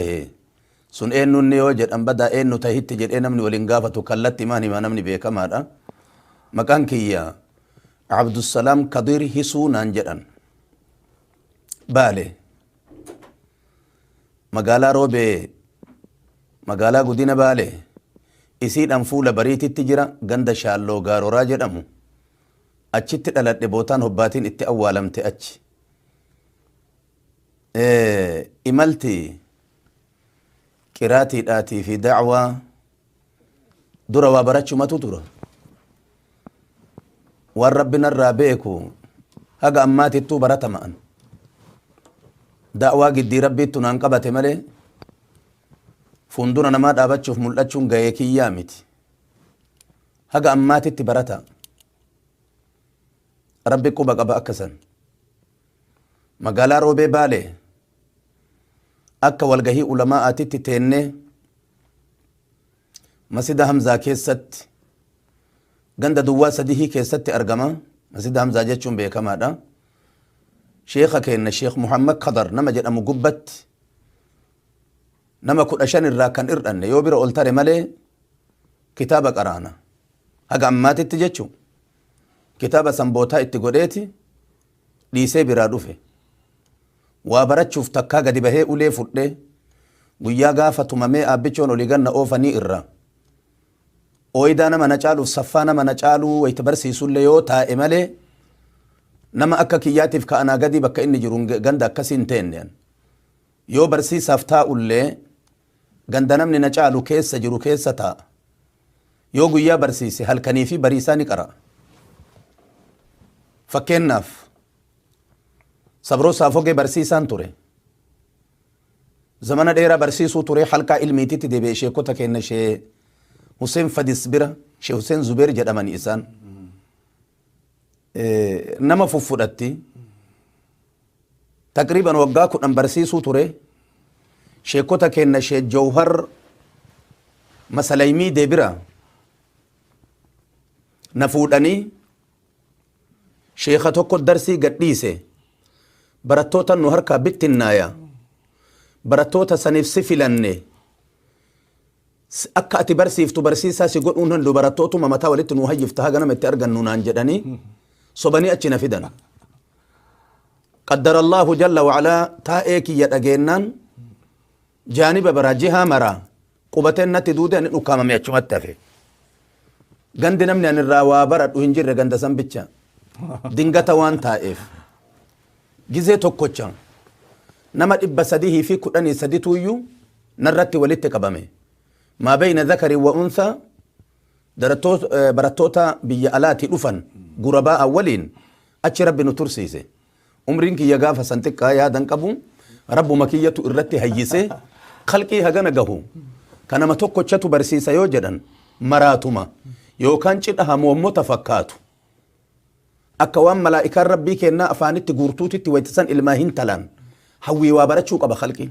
Ee. Sun eennu inni yoo jedhan badaa eennu tahitti jedhee namni wal hin gaafatu kallattimaan hima namni beekamaadha. Maqaan kiyya Abdussalaam Kadiir Hisuu naan jedhan. Baale. Magaalaa Roobee magaalaa Gudina Baale isiidhaan fuula bariititti jira ganda Shaalloo Gaaroraa jedhamu. Achitti dhaladhe bootaan hobbaatiin itti awwaalamte achi. imalti qiraatiidhaatii fi da'waa dura waa barachumatu tura waan rabbi narraa beeku haga ammaatittuu baratama'an da'waa giddii rabbiittu naan qabate malee fuundura namaa dhaabachuuf mul'achuun ga'ee kiyyaa miti haga ammaatitti barata rabbi quba qaba akkasan Magaalaa Roobee Baalee akka walgahii ulamaa'aatitti teennee Masjida Hamzaa keessatti ganda duwwaa sadihii keessatti argama. Masjida Hamzaa jechuun beekamaadha. Sheekha keenna Sheekh Muhammad Kadar nama jedhamu gubbatti nama kudha shan irraa kan hir'anne yoo bira ol tare malee kitaaba qaraana. Haga ammaatitti jechuun kitaaba sanbootaa itti godheeti dhiisee biraa dhufe. Waa barachuuf takkaa gadi bahee ulee fudhee guyyaa gaafa tumamee Aabbichoon olii gad na oofanii irraa ooydaa nama na caaluuf saffaa nama na caaluu wayita barsiisullee yoo taa'e malee nama akka kiyyaatiif ka anaa gadii bakka inni jiru ganda akkasii hin teenne an. Yoo barsiisaaf taa'ullee ganda namni na caalu keessa jiru keessa taa'a. Yoo guyyaa barsiise halkanii fi bariisaa ni qara'a. Fakkeenyaaf Sabroo Saafogee barsiisaan ture. Zamana dheeraa barsiisuu ture halkaa ilmiititti deebi'e sheekota keenya shee Huseen Fadis bira shee Huseen Zubeer jedhamani isaan. Nama fuffudhatti. Taqriiban waggaa 10 barsiisuu ture. Sheekkota keenna Sheek Jawhar Masalaymii Debira na fuudhanii sheekha tokko darsii gad dhiise. Barattootan nu harkaa bittinnaaya. Barattoota saniif si filanne. S Akka ati barsiiftu barsiisaa si godhuun handhu barattootuma mataa walitti nuu hayyifta haga nama itti argannu naan jedhanii sobanii achi na fidan. Qaddarallaahu jalla wa'alaa taa'ee kiyya dhageennaan jaaniba biraa jihaa maraa qubateen natti duude ani dhukkaamame achumatti hafe. Gandi namni ani irraa waa baradhu hin jirre ganda san bicha. Dingata waan taa'eef. Gizee tokkocha nama dhibba sadihii fi kudhanii sadituuyyuu narratti walitti qabame. Maa bayna zakarin wa unthaa darattoos- eh, barattoota biyya alaatii dhufan gurabaa'an waliin achi rabbi nu tursiise. Umriin kiyya gaafa san xiqqaa yaadan qabu rabbuma kiyyatu irratti hayyisee kalqii hagana gahu kan nama tokkochatu barsiisa yoo jedhan maraatuma yookaan cidha hamoommota fakkaatu. akka waan malaa'ikaan rabbii kennaa afaanitti guurtuutitti waytisan ilmaa hin talaan hawwii waa barachuu qaba kalqiin.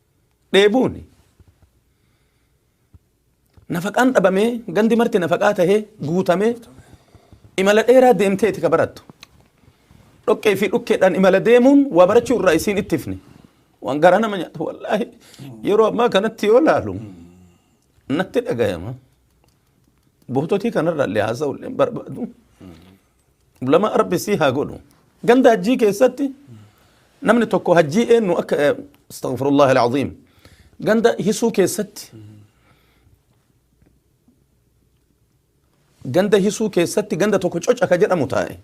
dheebuuni. Nafaqaan dhabamee gandi marti nafaqaa tahee guutamee imala dheeraa deemteeti ka barattu. Dhoqqee fi dhukkeedhaan imala deemuun waa barachuu irraa isiin ittifne. Waan garaa nama nyaatu wallaahi yeroo ammaa kanatti yoo laalu natti dhagayama. Goototii kanarraa illee haasa'u illee barbaadu. Ulamaa rabbi sii haa godhu. Ganda hajjii keessatti namni tokko hajjii eenyu akka eh, astaghfirullah alazim ganda hisuu keessatti ganda hisuu keessatti ganda tokko coca ka jedhamu taa'e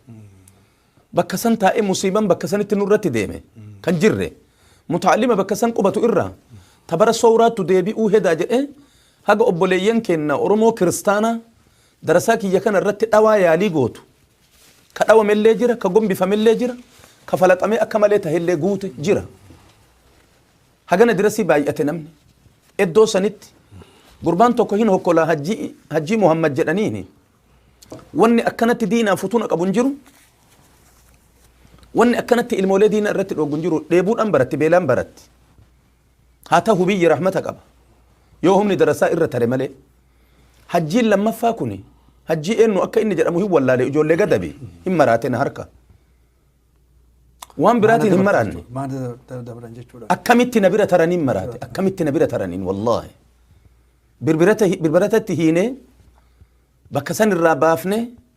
bakka san taa'e musiiban bakka sanitti nurratti deeme kan jirre mutaalima bakka san qubatu irraa tabara sowraattu deebi'uu hedaa jedhee haga obboleeyyan keenna oromoo kiristaanaa Darasaa kiyya kana irratti dhawaa yaalii gootu, ka dhawame illee jira, ka gombifame illee jira, ka falaxamee akka malee tahe illee guute jira. Hagana dirasii baay'ate namni. Eddoo sanitti gurbaan tokko hin hokkolaa hajjii, hajjii Muhammad jedhaniini. Wanni akkanatti diinaan futuna qabu hin jiru. Wanni akkanatti ilmoolee diina irratti dhooggu hin jiru. Dheebuudhaan baratti, beelaan baratti. Haa tahu biyyi rahmata qaba yoo humni darasaa irra tare malee. Hajjiin lammaffaa kuni hajjii eennu akka inni jedhamu hin wallaale ijoollee gadabi hin maraate na harka. Waan biraatiin hin maraanne. Maana dab- dabran jechuudha. akkamitti na bira taraniin maraate akkamitti na bira taraniin wallaahi birbirata birbiratatti hiinee bakka san irraa baafne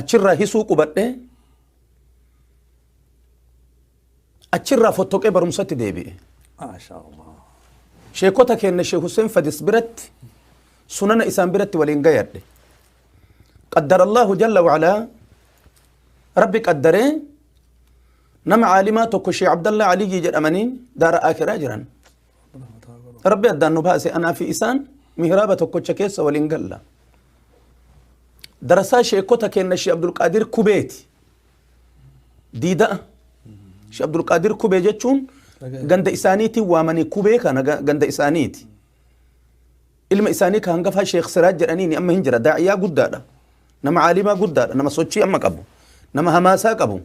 achirraa hisuu qubadhee achirraa fottoqee barumsatti deebi'e. Maashaallah. Sheekota keenya Sheek Hussein Fadis biratti sunana isaan biratti waliin gayadhe. Qaddara Allahu jalla wa'alaa rabbi qaddaree nama caalimaa tokko Sheek Abdallaa Aliyyii jedhamanii daara akiraa jiran. rabbi addaan nu baase anaa fi isaan mihraaba tokkocha keessa waliin galla darasaa sheekota keenna shee abdulqaadir kubeeti diida'a shee abdulqaadir kubee jechuun ganda isaaniitiin waamanii kubee kana ga- ganda isaaniiti ilma isaanii ka hangafaa sheekh siraaj jedhaniini amma hin jira daa'iyaa guddaadha nama caalimaa guddaadha nama sochii amma qabu nama hamaasaa qabu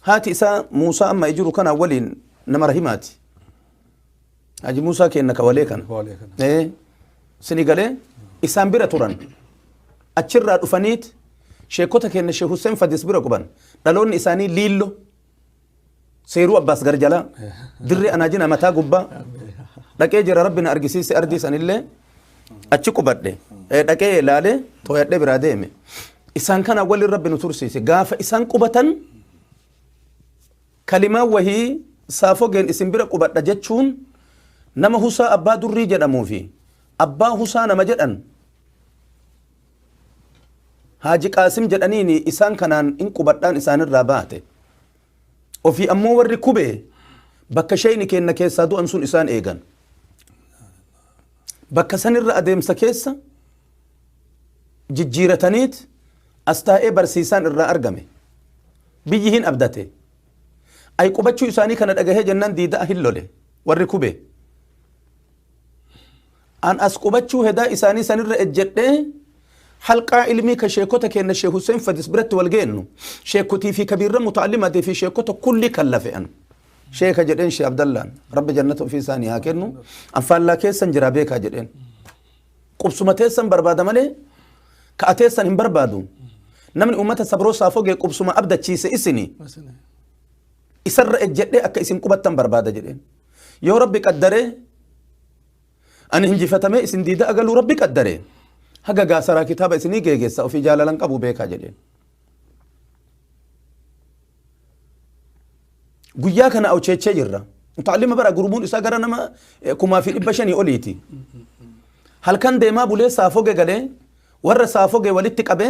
Haati isaa Muusaa amma jiru kana waliin nama rahimaati. Haji Muusaa keenna kawalee kana. Kawalee kana. Ee, sini galee isaan bira turan. Achirraa dhufaniit sheekota keenna Sheekh Hussein Fadis bira quban. Dhaloonni isaanii Liillo. seeruu abbaas gar jalaa dirree anaa jina mataa gubbaa dhaqee jira rabbi na argisiise ardii sanillee achi qubadhe Eh, dhaqee ilaale tooyadhee biraa deeme isaan kana waliin rabbi nu tursiise gaafa isaan qubatan kalimaa wahii saafogeen isin bira qubadha jechuun nama husaa abbaa durrii jedhamuu fi abbaa husaa nama jedhan Haaji Qaasim jedhaniini isaan kanaan in qubadhaan isaanirraa baate. Ofii ammoo warri Kubee bakka sheeyni keenna keessaa du'an sun isaan eegan. Bakka sanirra adeemsa keessa jijjiirataniit as taa'ee barsiisaan irraa argame. Biyyi hin abdate. Ay qubachuu isaanii kana dhagahee jennaan diida'a hin lole warri Kubee. An as qubachuu hedaa isaanii san irra ejjedhee halqaa ilmii ka sheekota keenna Sheek Hussein Fadis biratti wal geennu sheekotii fi kabiirra muta'allimatii fi sheekota kulli kan lafe an. Sheeka jedheen Sheek Abdallaan rabbi jannata ofii isaanii haa kennu an faallaa keessan jiraa beekaa jedheen. Qubsuma teessan barbaada malee ka ateessan hin barbaadu. Namni uummata sabroo saafogee qubsuma abdachiise isini. Masini. isarra ejjedhee akka isin qubattan barbaada jedheen. Yoo Rabbi qaddaree ani injifatamee isin diidaa galuu Rabbi qaddaree haga gaasaraa kitaaba isinii geegessa ofii jaalalan qabu beekaa jedheen. Guyyaa kana awcheechee jirra. Taalima bara gurmuun isaa gara nama eh, kumaa fi dhibba shanii oliiti. Halkan deemaa bulee saafoo gegalee Warra saafoge walitti qabe,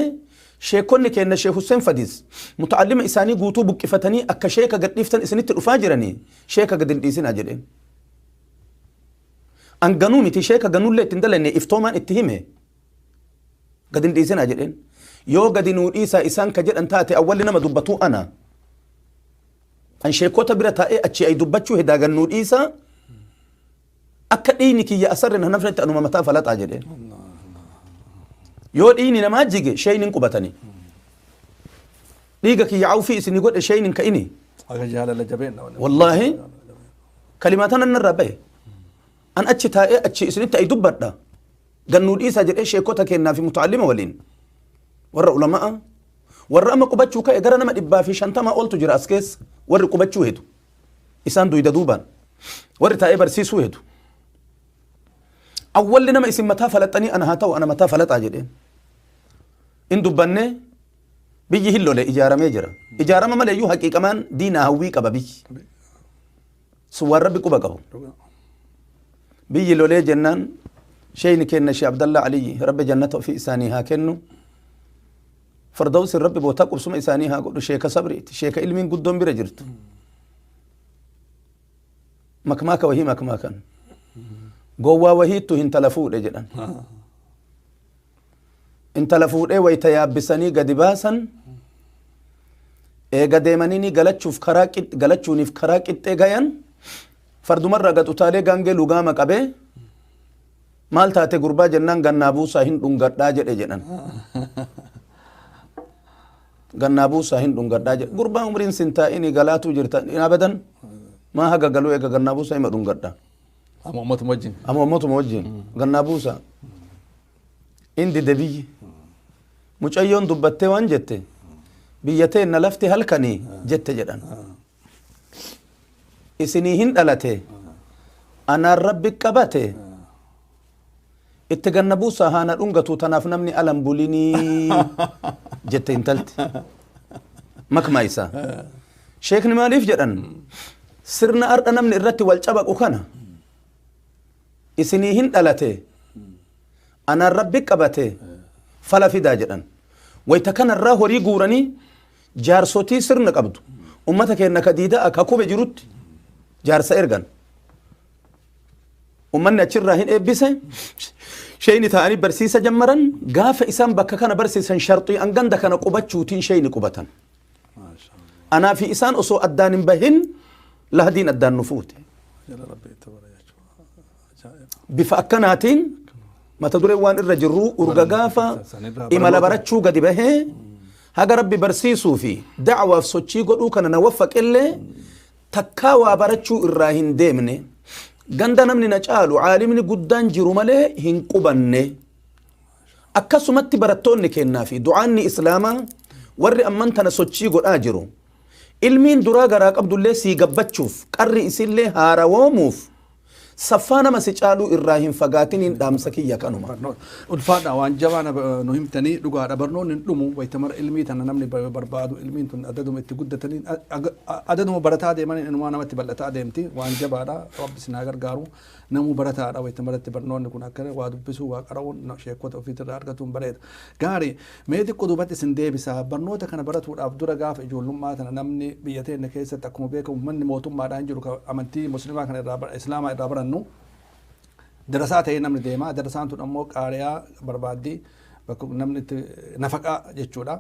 Sheekkonni keenna Sheekh Husseen Fadis, muta'allima isaanii guutuu buqqifatanii akka sheeka gad dhiiftan isinitti dhufaa jiranii, sheeka gad hin dhiisinaa jedheen. An ganuu miti, sheeka ganuullee itti hin dalaynee iftoomaan itti hime. Gad hin dhiisinaa jedheen. Yoo gadi nuu dhiisaa isaan ka jedhan taate awwalli nama dubbatu ana. An sheekkota bira taa'ee achii ayi dubbachuu hedaa gad nuu dhiisaa, Akka dhiigni kiyya asarri na nafnetti anuma mataa falaxaa jedheen. Yoo dhiigni namaa jige sheeyni hin qubatanii. Dhiiga kiyya awfii isinii godhe sheeyni hin ka'inii. Aga jaalala jabeen dha wanni. Wallaahi kalimaa tanan narraa bahe. An achi taa'ee achi isinitti ayi dubbadha. Gannuu dhiisaa jedhee sheekota kennaa fi muta'allima waliin. Warra ulama'a. Warra amma qubachuu ka'e gara nama dhibbaa fi shantama oltu jira as keessa. Warri qubachuu hedu. isaan duyda duubaan warri taa'ee barsiisuu hedu awwalli nama isin mataa falaxanii ana haa ta'u ana mataa falaxaa jedheen in dubbanne biyyi hin lole ijaaramee jira ijaarama malee iyyuu haqiiqamaan diinaa hawwii qaba biyyi sun waan rabbi quba qabu biyyi lolee jennaan sheeyni kenna shee abdallaa aliyyi rabbi jannata ofii isaanii haa kennu Fardawsin rabbi bootaa qubsuma isaanii haa godhu sheeka sabriiti sheeka ilmiin guddoon bira jirtu makmaaka wahii makmaakan gowwaa wahiittu hintala fuudhe jedhan intala fuudhee wayta yaabbisanii gadi baasan eega deemanii ni galachuuf karaa qix- galachuuniif karaa qixxee gayan fardumarraa gad utaalee gaangee lugaama qabee Maal taate gurbaa jennaan gannaa buusaa hin dhungadhaa jedhe jedhan. Gannaa buusaa hin dhungadhaa jedhe. Gurbaan umriin sin taa'ini galaatuu jirta hin abadan. Maa haga galuu eega gannaa buusaa hima dhungadha. Amma uummatuma wajjin. Amma uummatuma wajjin gannaa buusaa. Inni dide biyyi. Mucayyoon dubbattee waan jette biyya teenna lafti halkanii jette jedhan. isinii hin dhalate anaan rabbi qabate itti ganna buusaa haana dhungatu tanaaf namni alan bulinii jette intalti makmaa isaa sheekni maaliif jedhan sirna ardha namni irratti wal cabaqu kana isinii hin dhalate anaan rabbi qabate fala fidaa jedhan wayta kanarraa horii guuranii Jaarsotii sirna qabdu. Ummata keenna ka diida'a ka kube jirutti jaarsa ergan. Ummanni achirraa hin eebbise. Sheeyni taa'anii barsiisa jammaran. Gaafa isaan bakka kana barsiisan sharxii'an ganda kana qubachuutiin sheeyni qubatan. Anaa fi isaan osoo addaan hin bahin lahadiin addaan nu fuute. Bifa akkanaatiin mata dureen waan irra jirru urga gaafa imala barachuu gadi bahee haga rabbi barsiisuu fi da'awaaf sochii godhuu kana na waffaqellee takkaa waa barachuu irraa hin deemne ganda namni na caalu caalimni guddaan jiru malee hin qubanne akkasumatti barattoonni kennaa fi du'aanni islaamaa warri amman tana sochii godhaa jiru ilmiin duraa garaa qabdullee sii gabbachuuf qarri isillee haarawoomuuf Saffaa nama si caaluu irraa hin fagaatiniin dhaamsa kiyya kanuma. barnoota ulfaadha waan jabaa na- nu himtanii dhugaadha barnoonni hin dhumu wayita mara ilmii tana namni ba- barbaadu ilmiin tun adaduma itti guddataniin a- aga- a- adaduma barataa deemaniin inumaa namatti bal'ataa deemti waan jabaadha rabbi isin haa gargaaru namuu barataadha wayita maratti barnoonni kun akkana waa dubbisuu waa qara'uun na- sheekota ofiitirraa argatuun bareeda gaarii Mee xiqqo duubatti isin deebisa. Barnoota kana baratuudhaaf dura gaafa ijoollummaa tana namni biyya teenna keessatti akkuma beekamu manni mootummaadhaan jiru ka amantii muslimaa kana irraa ba- islaamaa irraa barannu darasaa ta'ee namni deema. Darasaan tun ammoo qaariyaa barbaaddi bakka namni itti nafaqaa jechuudha.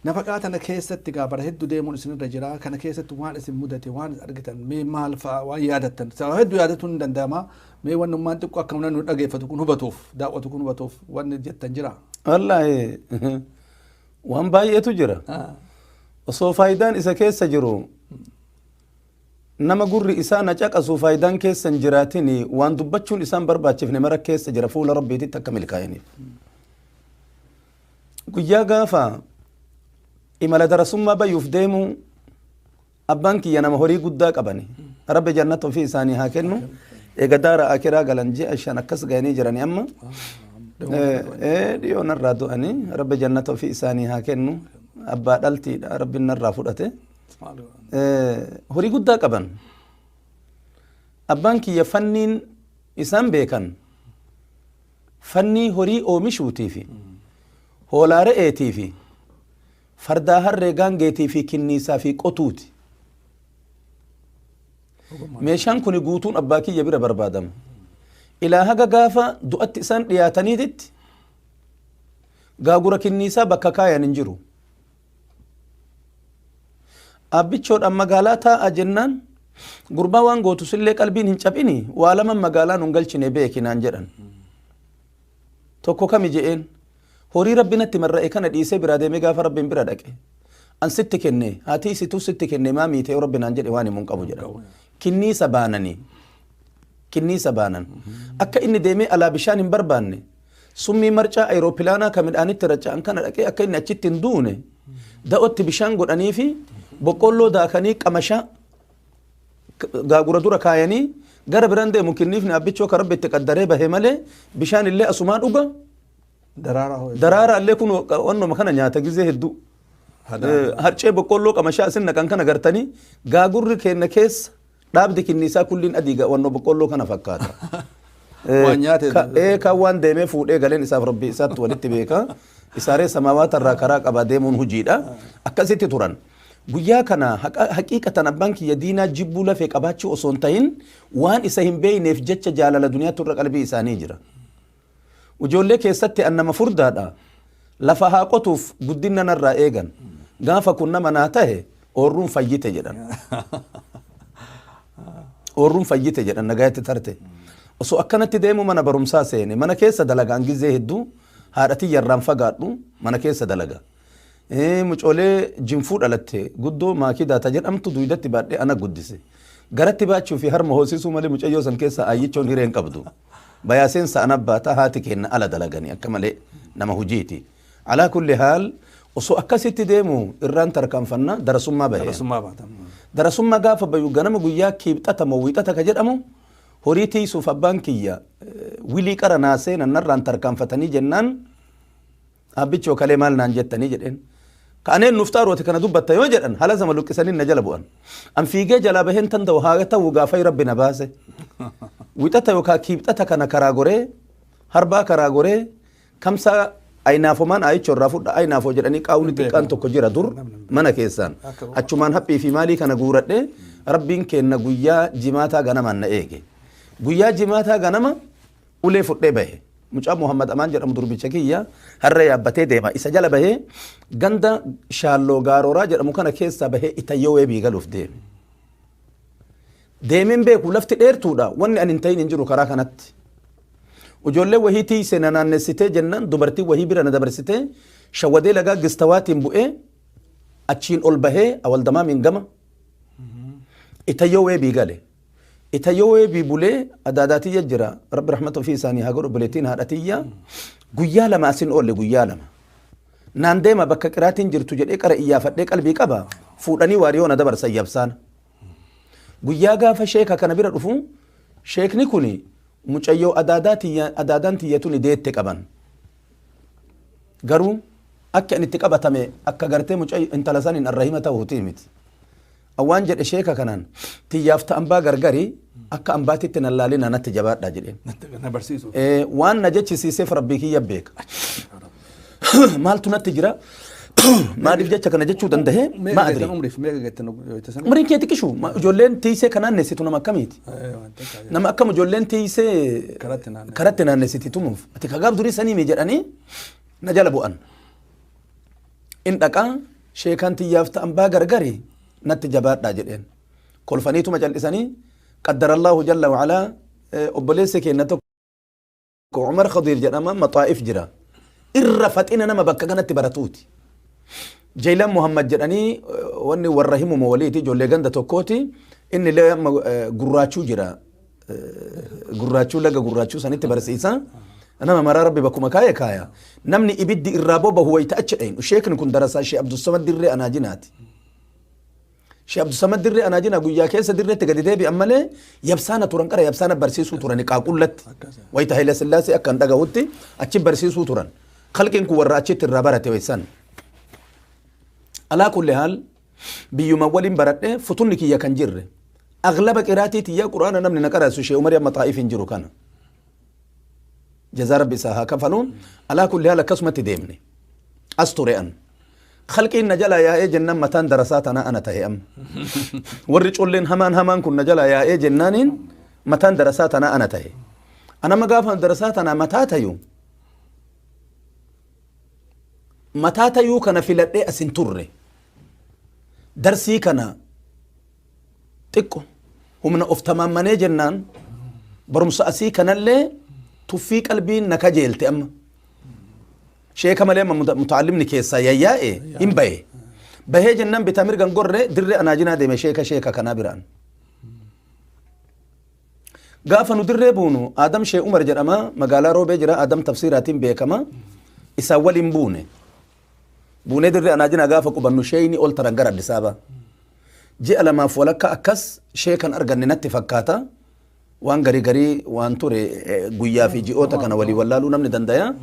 Nafaqaa tana keessatti gaa bara hedduu deemuun isinirra jira. Kana keessatti waan isin mudate, waan argitan, mee maal fa'a waan yaadattan. Sababa hedduu yaadatuun ni danda'ama. Mee wanni ummaan xiqqoo akka mana nu dhageeffatu kun hubatuuf daawwatu kun hubatuuf wanni jettan jira. Wallaahi waan baay'eetu jira. Ah, Osoo faayidaan isa keessa jiru nama gurri isaa na caqasu faayidaan keessa hin jiraatin waan dubbachuun isaan barbaachifne mara keessa jira fuula rabbiititti akka milkaa'iniif. Guyyaa gaafa imala darasummaa bayuuf deemuu Abbaan kiyya nama horii guddaa qabani. Rabbi jannata ofii isaanii haa kennu. Eega daara akiraa galan ji'a shan akkas ga'anii jirani amma. Dhiyoo narraa du'anii rabbi jannata ofii isaanii haa kennu. Abbaa dhaltiidha rabbi narraa fudhate. Horii guddaa qaban. Abbaan kiyya fanniin isaan beekan fannii horii oomishuutii fi hoolaa re'eetii fi Fardaa harree gaangeetii fi kinniisaa fi qotuuti. Meeshaan kuni guutuun abbaa kiyya bira barbaadama. Ilaa haga gaafa du'atti isaan dhiyaataniititti gaagura kinniisaa bakka kaayan hin jiru. Abbichoodhaan magaalaa taa'aa jennaan gurbaa waan gootu sillee qalbiin hin caphini waa laman magaalaa nun galchine beeki naan jedhan. Tokko kami je'een Horii Rabbi natti marra'e kana dhiisee biraa deemee gaafa Rabbiin bira dhaqe an sitti kenne haatii isituu sitti kenne maa miite yoo Rabbi naan jedhe waan himu hin qabu jedhan. Kinniisa baananii kinniisa baanan akka inni deemee alaa bishaan hin barbaanne summii marcaa ayiroopilaanaa ka midhaanitti raca'an kana dhaqee akka inni achitti hin duune da'otti bishaan godhanii fi boqqolloo daakanii qamashaa gaagura dura kaayanii gara biraan deemu kinniifni abbichoo ka rabbi itti qaddaree bahe malee bishaan illee asumaa dhuga Daraaraa hoo eessa? Daraaraa illee kun wannuma kana nyaata gizee hedduu. Hadaa. Eh, Harcee boqqolloo qamashaa isin naqan kana gartanii gaagurri keenna keessa dhaabdi kinniisaa kulliin adii ga- wannoo boqqolloo kana fakkaata. Eh, Waan nyaate ka- dha. eh, Kan waan deemee fuudhee galeen isaaf rabbi isaatti walitti beeka. Isaaree samaawaata irraa karaa qabaa deemuun hojiidha. Akkasitti turan. Guyyaa kana haqa- haqiiqatan abbaan kiyya diinaa jibbuu lafee qabaachuu osoo hin tahin waan isa hin beekneef jecha jaalala duniyaatti irra qalbii isaanii jira. Ijoollee keessatti an nama furdaadha. Lafa haa qotuuf guddinna narraa eegan. Gaafa kun nama naa tahe oorruun fayyite jedhan. Oorruun fayyite jedhan nagayatti tarte. Osoo akkanatti deemu mana barumsaa seene. Mana keessa dalagaan gizee hedduu haadha tiyya irraan fagaadhu mana keessa dalaga. Eh, Mucoolee jinfuu dhalatte guddoo maakidaa ta jedhamtu duydatti baadhee ana guddise. Garatti baachuu fi harma hoosisuu malee mucayyoo san keessa aayyichoon hiree hin qabdu. Bayaaseen sa'an abbaata haati keenna ala dalagani akka malee nama hujiiti. Alaa kulli haal osoo akkasitti deemu irraan tarkaanfanna darasummaa bahe. Darasummaa baata. Darasummaa gaafa bayu ganama guyyaa kiibxata moo wiixata ka jedhamu horii tiisuuf abbaan kiyya wilii qara naasee nannarraan tarkaanfatanii jennaan Aabbichoo kalee maal naan jettanii jedheen. Ka'aneen nuuf xaaruu ati kana dubbatta yoo jedhan hala zama luqqisanii na jala bu'an. An fiigee jalaa baheen tanda'u haa ta'u gaafay rabbi na baase. Wixata yookaan kiibxata kana karaa goree harbaa karaa goree kamsaa ayinaafomaan ayichoo irraa fudha ayinaafoo jedhanii qaawni xiqqaan tokko jira dur mana keessaan achumaan haphii fi maalii kana guuradhe rabbiin keenna guyyaa jimaataa ganamaan na eege guyyaa jimaataa ganama Ulee fudhee bahe. Mucaan Muhammad Amaan jedhamu durbicha kiyya harree yaabbatee deema. Isa jala bahee ganda Shaalloo Gaarooraa jedhamu kana keessaa bahee Itayyoo Weebii galuuf deeme. Deemeen beeku lafti dheertuudha. Wanni ani hin ta'in hin jiru karaa kanatti. Ijoollee wahii tiiyse na naannessitee jennaan dubartii wahii bira na dabarsitee shawadee lagaa gistawaatiin bu'ee achiin ol bahee awaldamaamiin gama Itayyoo Weebii gale. Ita yowee bii bulee adaadaa tiyya jira rabbi rahmata ofii isaanii haa godhu obboleettiin haadha tiyya guyyaa lama asin oolle guyyaa lama naan deema bakka qiraatiin jirtu jedhee qara iyyaafadhee qalbii qaba fuudhanii waariyoo na dabarsan yabsaana guyyaa gaafa sheeka kana bira dhufu sheekni kun mucayyoo adaadaa tiyya adaadaan tiyya tuni deette qaban garuu akka inni itti qabatame akka gartee mucayyo intala saniin arrahima ta'uutii miti An waan jedhe sheeka kanaan tiyyaaf ta ambaa gargari akka ambaatitti nan laalinaa natti jabaadhaa jedheen. Natti- Na barsiisuuf. Eh, Waan na jechisiiseef rabbii kiyya beeka. Maaltu natti jira? Maaliif jecha kana jechuu danda'e? Mee Maa eeggattan adri. umriif mee eeggattan wayita sana. Umriin kee xiqqishu ma- ijoolleen tiisee kan naannessitu nama akkamiiti? Eh, waan takka jedha. Nama akkam ijoolleen tiisee Karatti naannessiti. karatti naannessiti tumuuf. Ati kagaaf durii sanii mi jedhanii na jala bu'an. In dhaqa, sheekaan tiyyaaf ta ambaa gargari natti jabaadhaa jedheen. Kolfaniituma cal'isanii, Qaddarallaahu jalla wa alaa, obboleessi keenna tokko Umar Khadiir jedhama, Maxaa'if jira. Irra faxina nama bakka kanatti baratuuti. Jeylan Muhammad jedhanii wanni warra himuma waliiti, ijoollee ganda tokkooti. Inni illee amma gurraachuu jira. gurraachuu laga gurraachuu sanitti barsiisa. Nama maraa rabbi bakkuma kaa'e kaaya. Namni ibiddi irraa bobahu wayita achi dhaynu. Sheekni kun darasaa Shee Abdussamad Dirree Anaajinaati. Shee Abdussamad Dirree Anaajinaa guyyaa keessa dirreetti gadi deebi'an malee yabsaana turan qara yabsaana barsiisuu turan qaaqullatti. Wayita Haile Sillaasee akka hin dhagahutti achi barsiisuu turan. Kalqiin kun warra achitti irraa barate waysan. Alaa kulli haal biyyuma walin baradhe futunni kiyya kan jirre aglaba qiraatii tiyya quraana namni na qarasu shee umari amma xaa'if hin jiru kana jazaa rabbi isaa haa kafalu alaa kulli haal akkasumatti deemne as ture an khalqiin na jalaa yaa'ee jennaan mataan darasaa tanaa ana ta'e amma warri colleen hamaan hamaan kun na jalaa yaa'ee jennaaniin mataan darasaa tanaa ana ta'e anama gaafa darasaa tanaa mataa tayu mataa tayuu kana filadhee as hin turre. Darsii kana xiqqo humna of tamaammanee jennaan barumsa asii kanallee tuffii qalbiin na kajeelte amma. Sheeka malee amma muta- mutaallimni keessaa yayyaa'e hin bahe. Bahee jennaan bitaa mirgan gorre dirree anaajinaa deeme sheeka sheeka kanaa biraan. Gaafa nu dirree buunu Aadam Shee Umar jedhama magaalaa Roobee jira Aadam Tafsiiraatiin beekama isaan waliin buune. Buunee dirree Anaajinaa gaafa qubannu sheeyni ol taran gara Addis Ababa. Ji'a lamaaf walakka akkas shee kan arganne natti fakkaata. Waan garii garii waan ture eh, guyyaa fi ji'oota kana walii wallaaluu namni dandaya.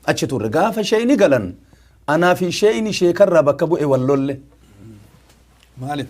Achi turre gaafa sheeyni galan anaa fi sheeyni sheekarraa bakka bu'e wal lolle. Maaliif?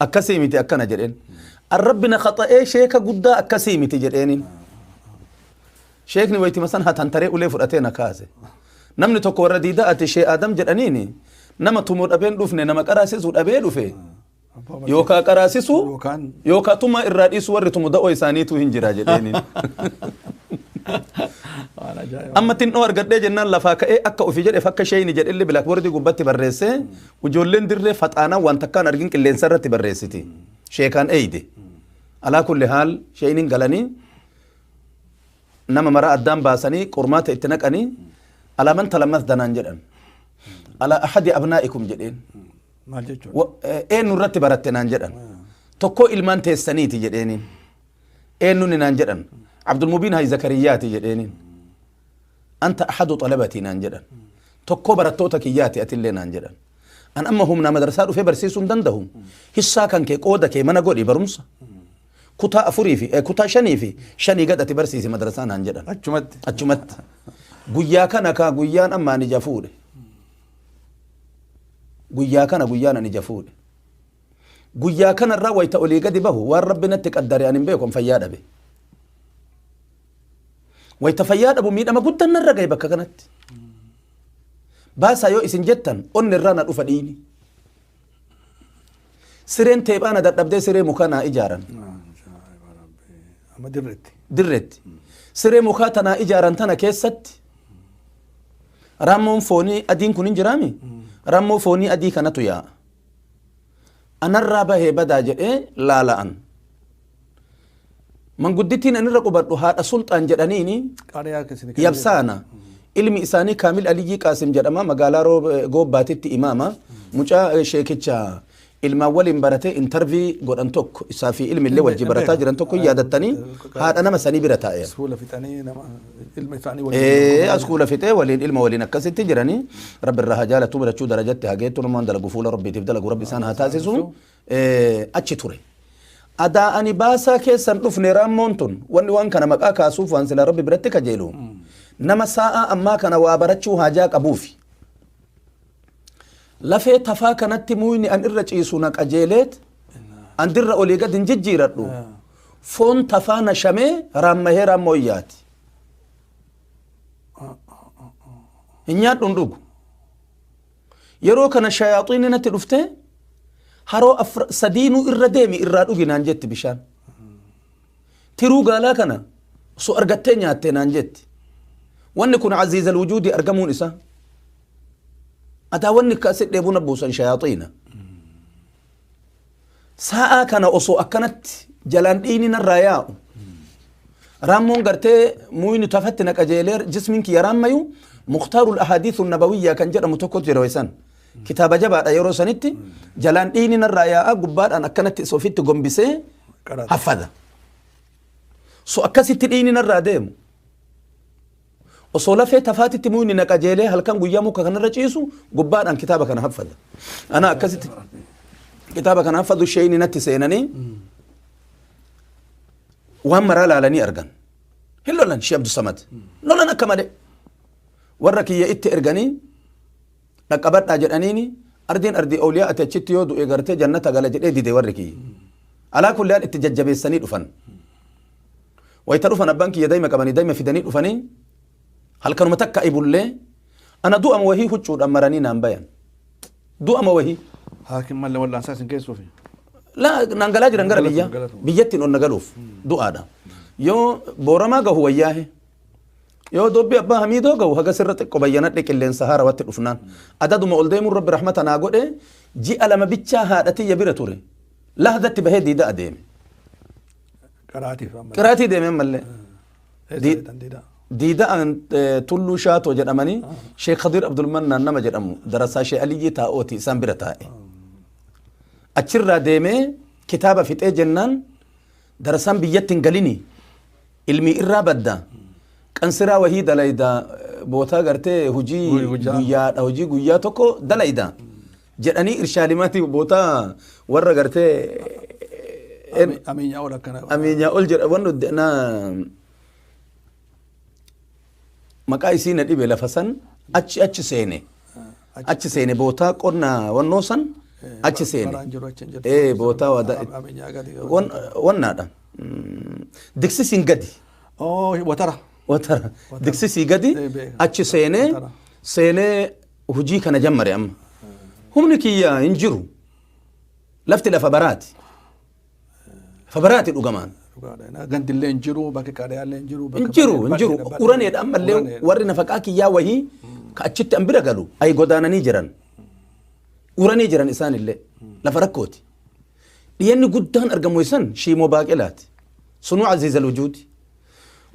Akkasii miti akkana jedheen. An Rabbi na khaxa'ee sheeka guddaa akkasii miti jedheenin. Sheekni waytima san hatantaree ulee fudhatee na kaase. Namni tokko warra diidaa ati shee Adam jedhaniini nama tumu dhabeen dhufne nama qaraasisu dhabee dhufe. Yookaa qaraasisu Yookaan- yookaa tumaa irraa dhiisu warri tumu da'oo isaaniitu hin jira jedheenin. Waan ajaa'ibaa. Amma xinnoo argadhee jennaan lafaa ka'ee akka ofii jedheef akka sheeyni jedhellee bilaakboordii gubbatti barreessee Ujoolleen dirree faxaanaa waan takkaan argin qilleensa irratti barreessiti. Sheekaan eeyde. Alaa kulli haal sheeyniin galanii nama maraa addaan baasanii qormaata itti naqanii alaa man talammas danaan jedhan. Alaa ahadi abnaa'ikum jedheen. Maal jechuudha? Wa- eh, Eenyu irratti baratte naan jedhan. Tokkoo ilmaan teessaniiti jedheeniin. Eenyuun naan jedhan. Abdulmubiin Hayi Zakariyyaati jedheeniin. anta ahadu xalabatii naan jedhan tokkoo barattoota kiyyaati atillee naan jedhan an amma humnaa madarsaa dhufee barsiisuu hin dandahu hissaa kan kee qooda kee mana godhi barumsa kutaa afurii fi eh, kutaa shanii fi shanii gad ati barsiisi madarsaa naan jedhan Achumatti. achumatti guyyaa kana kaa guyyaan amma ani jafuudhe guyyaa kana guyyaan ani jafuudhe Guyyaa kanarraa wayita olii gadi bahu waan rabbi natti qaddare ani hin beekon fayyaa dhabe. Wayita fayyaa dhabu miidhama guddaan narra gahe bakka kanatti. Baasaa yoo isin jettan onni irraa na dhufa dhiini. Sireen teephaa na dadhabdee siree mukaa naa ijaaran. Amma dirreetti. dirreetti. Siree mukaa tanaa ijaaran tana keessatti raammoon foonii adiin kun hin jiraami? Raammoo foonii adii kanatu yaa'a. anarraa bahee badaa jedhee laala'an manguddittiin anirra qubadhu haadha sulxaan jedhaniini Qaariyaa keessi ni yabsaana ilmi isaanii kaamil aliyyii qaasim jedhama magaalaa Roo- eh, goobbaatitti imaama mucaa eh, sheekicha ilmaan waliin baratee intarvii godhan tokko isaa fi ilmi illee wajji barataa jiran tokko hin yaadattanii haadha nama sanii bira taa'eera Suula fixanii nama. ilma isaanii waliin Ee, dorgomaa as kuula fixee waliin ilma waliin akkasitti jiranii rabbi irraa haa jaalatu birachuu darajatti haa geettu namaan dalagu fuula rabbiitiif dalagu rabbi isaan haa taasisu Ee, achi ture. Adaa ani baasaa keessan dhufne raammoon tun wanni waan kana maqaa kaasuuf waan sila rabbi biratti kajeelu nama saa'aa ammaa kana waa barachuu haajaa qabuufi. Lafee tafaa kanatti muuyni an irra ciisu na qajeeleet an dirra olii gad hin jijjiiradhu. Foon tafaa na shamee raammahee raammoo iyyaati. Hin nyaadhu hin dhugu. Yeroo kana shayaaxiinni natti dhufte haroo afra- sadiinuu irra deemi irraa dhugi naan jetti bishaan. Tiruu gaalaa kana osoo argattee nyaattee naan jetti. Wanni kun aziizal wujuudii argamuun isaa. Ataa wanni akka si dheebuu na buusan shayaaxiina. Sa'aa kana osoo akkanatti jalaan dhiigni narraa yaa'u. Raammoon gartee muuyni tafatti na qajeelee jismiin kiyya raammayu muktaarul ahadiisu nabawiyyaa kan jedhamu tokko jira weessan. Kitaaba jabaadha yeroo sanitti jalaan dhiigni narraa yaa'a gubbaadhaan akkanatti isa ofitti gombisee Qaraxa. haffada. So akkasitti dhiigni narraa deemu. Osoo lafee tafaatitti muyni na qajeelee halkan guyyaa muka kanarra ciisu gubbaadhaan kitaaba kana haffadha. Ana akkasitti kitaaba kana haffadhu sheeyni natti seenanii waan maraa laalanii argan. Hin lolan Shee Abdusamad. Lolan akka malee. Warra kiyya itti erganii dhaqqabadhaa jedhaniini ardiin ardii awliyaa ati achitti yoo du'e gartee jannata gala jedhee dide warri kiyya alaa kulli haal itti jajjabeessanii dhufan wayita dhufan abbaan kiyya daima qabanii daima fidanii dhufanii halkanuma takka ibullee ana du'ama wahii huccuudhaan maranii naan bayan du'ama wahii Haakin malee wal'aansaa isin keessuufi. la naan galaa jiran gara biyyaa Galatuma. biyyattiin ol na galuuf du'aadha yoo booramaa gahu wayyaahe Yoo dubbi abbaa hamiidoo ga'u haga sirra xiqqo bayyanadhe qilleensa haarawatti dhufnaan. Adaduma ol deemuun rabbi rahmata naa godhe ji'a lama bichaa haadha tiyya bira ture. Lahdatti bahee diida adeeme. Qaraatiif amma. Qiraatii deeme ammallee. Eessa Di- beektan diidaa? Diida'an eh, tulluu shaatoo jedhamanii Sheekh Khadir Abdulmannaan nama jedhamu darasaa Sheekh Aliyyii taa'ooti isaan bira taa'e. Achirraa deemee kitaaba fixee jennaan Darsaan biyyatti hin galini ilmii irraa badda qansiraa wahii dalayda bootaa gartee hojii Hojii guyyaa. guyyaadha hojii guyyaa tokko dalayda jedhanii irshaadimaatii bootaa warra gartee Ameenyaa ol akkana. ameenyaa ol jedha wannu na maqaa isii na dhibe lafa san achi achi seene achi seene bootaa qonna wannoo san achi seene Baraan jiru achi hin jirtu. ee bootaa wadaa Karaa qabeenyaa gadi. wan- wannaadha Mm, diksisiin gadi Oo, watara. watara diksisii gadi Ee, beeka. achi seenee Watara. seenee hojii kana jammare amma humni kiyya hin jiru lafti lafa baraati Fabaraati dhugamaan. Gandillee hin jiru, bakki qaadiyaallee hin jiru. Hin jiru, hin jiru. Uraneedha ammallee warri nafaqaa kiyyaa wahii ka achitti an bira galu ayi godaananii jiran. Uranee jiran isaanillee lafa rakkooti. Dhiyenni guddaan argamu isan shiimoo baaqelaati. Sunuu aziiza lujuuti.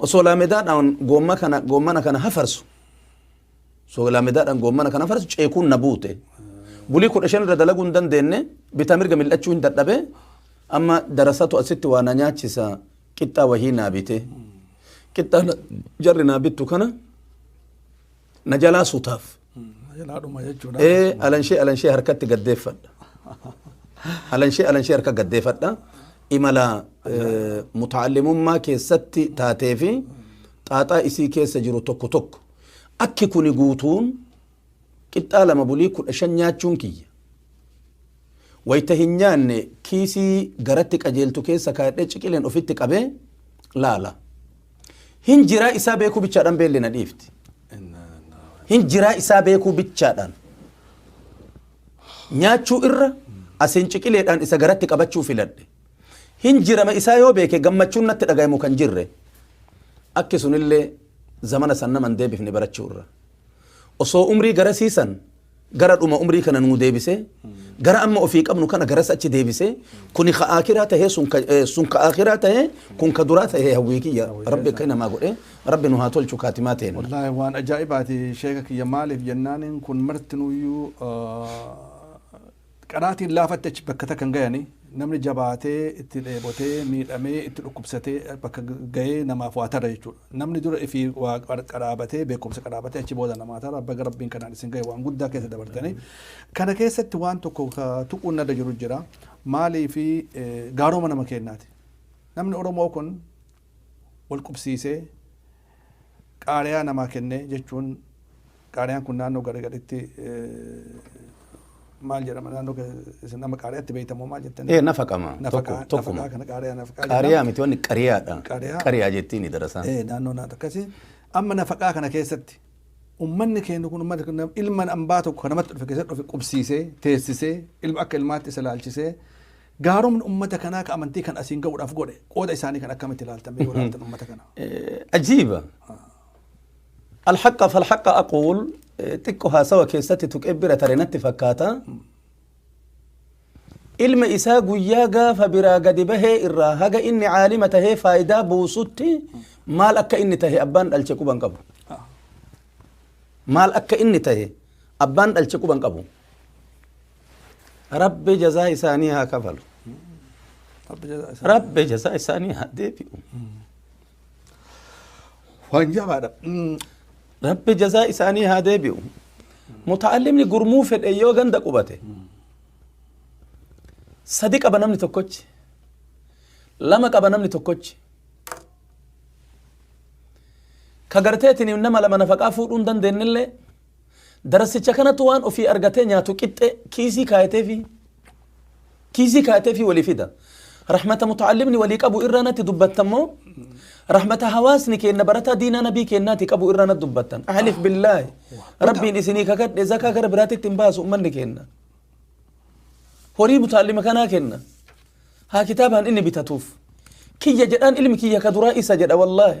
Osoo laamedaadhaan goomma kana goommana kana hafarsu Soolaa medaadhaan goommana kana farsu ceekuun na buute. Bulii kudha shan irra dalaguu hin dandeenye bitaa mirga mil'achuu hin dadhabe amma darasatu asitti waa na nyaachisa qixxaa wahii naa bite. Qixxaa na- jarri naa bittu kana na jalaa sutaaf. Jalaadhuma jechuudha. Ee alanshee alanshee harkatti gaddeeffadha. Alanshee alanshee harka gaddeeffadha. Imala eh, mutaallimummaa keessatti taatee fi xaaxaa isii keessa jiru tokko tokko. Akki kuni guutuun qixxaa lama bulii kudha shan nyaachuun kiyya. Wayta hin nyaanne kiisii garatti qajeeltu keessa kaayadhee ciqileen ofitti qabee laala. Hin jiraa isaa beekuu bichaadhaan beelli na dhiifti. Hin jiraa isaa beekuu bichaadhaan. Nyaachuu irra asiin ciqileedhaan isa garatti qabachuu filadhe. Hin jirama isaa yoo beeke gammachuun natti dhagahamu kan jirre. Akki sunillee Zamana san nama hin deebifne barachuu irra. Osoo umrii garasii san gara dhuma umrii kana nuu deebisee, gara amma ofii qabnu kana garas achi deebisee, kuni ka aakhiraa tahee sun ka, eh, sun ka aakhiraa tahee, kun ka duraa tahee hawwii kiyya. Rabbi akka namaa godhee, Rabbi nu haa tolchu kaatimaa teenna. Wallaahi waan ajaa'ibaati sheeka kiyya maaliif jennaaniin kun martinuyyuu ah, Qaraatiin laafatti achi bakka takka hin gayani. Namni jabaatee, itti dheebotee, miidhamee, itti dhukkubsatee bakka gayee namaaf waa tara jechuudha. Namni dura ifii waa qaraabatee, beekumsa qaraabatee achi booda namaa tara. Baga Rabbiin kanaan isin gaye waan guddaa keessa dabartanii. Kana keessatti waan tokko ka tuquun narra jiru jira. Maaliifi gaaroma nama keennaati. Namni Oromoo kun wal qubsiisee, qaariyaa namaa kennee jechuun qaariyaan kun naannoo gari garitti maal jedhama naannoo isin nama qaariyaatti beektamoo maal jettanii? Ee nafaqama. Tokko tokkuma. Nafaqaa kana qaariyaa nafaqaa jedhama. Qaariyaa miti wanni qariyaadha. Qariyaa. Qariyaa jettiin darasaan. Ee naannoo naannoo akkasii. Amma nafaqaa kana keessatti ummanni keenya kun ummata kana ilma ambaa tokko kan namatti dhufe keessatti dhufe qubsiisee teessisee ilma akka ilmaatti isa laalchisee Gaaromni ummata kanaa ka amantii kan asiin ga'uudhaaf godhe qooda isaanii kan akkamitti ilaaltan mee yoo ilaaltan ummata kana. Ajiiba. Alhaqa falhaqa aquul xiqqo haasawa keessatti tuqee bira tare natti fakkaata. Ilma isaa guyyaa gaafa biraa gadi bahee irraa haga inni caalima tahee faayidaa buusutti maal akka inni tahe abbaan dhalche quban qabu. Maal akka inni tahe abbaan dhalche quban qabu. rabbi jazaa isaanii haa kafalu Rabbi jazaa isaa- rabbi jazaa isaanii haa deebi'u waan jabaadha Mm, rabbi jazaa isaanii haa deebi'u muta'allimni gurmuu fedhe yoo ganda qubate sadi qaba namni tokkochi lama qaba namni tokkochi ka garteetiin nama lama nafaqaa fuudhuu hin dandeenyellee Darasicha kanatu waan ofii argatee nyaatu qixxe kiisii kaayateefii kiisii kaayateefii walii fida. Rahmata muta'allimni walii qabu irraa natti dubbattan moo rahmata hawaasni keenna barataa diinaa nabii keennaati qabu irraa natti dubbattan. Ahlif billaahi rabbiin isinii kakadhe zakaa gara biraatitti hin baasu ummanni keenna. Horii muta'allima kanaa kenna. Haa kitaabaan inni bitatuuf. Kiyya jedhaan ilmi kiyya ka duraa isa jedha wallaahi.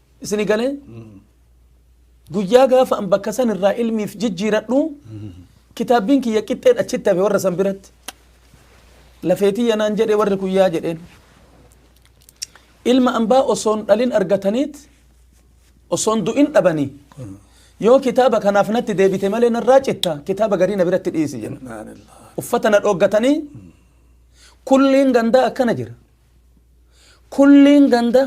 Isini galee guyyaa gaafa an bakka san irraa ilmiif jijjiiradhu kitaabbiin kiyya qixxeen achitti hafe warra san biratti. Lafeetii yanaan jedhe warri kun yaa jedheen. Ilma ambaa osoon dhalin argataniit osoon du'in dhabanii. Yoo kitaaba kanaaf natti deebite malee narraa citta kitaaba garii na biratti dhiisi jenna. Subhaanallah. Uffata na dhooggatanii kulliin gandaa akkana jira. Kulliin ganda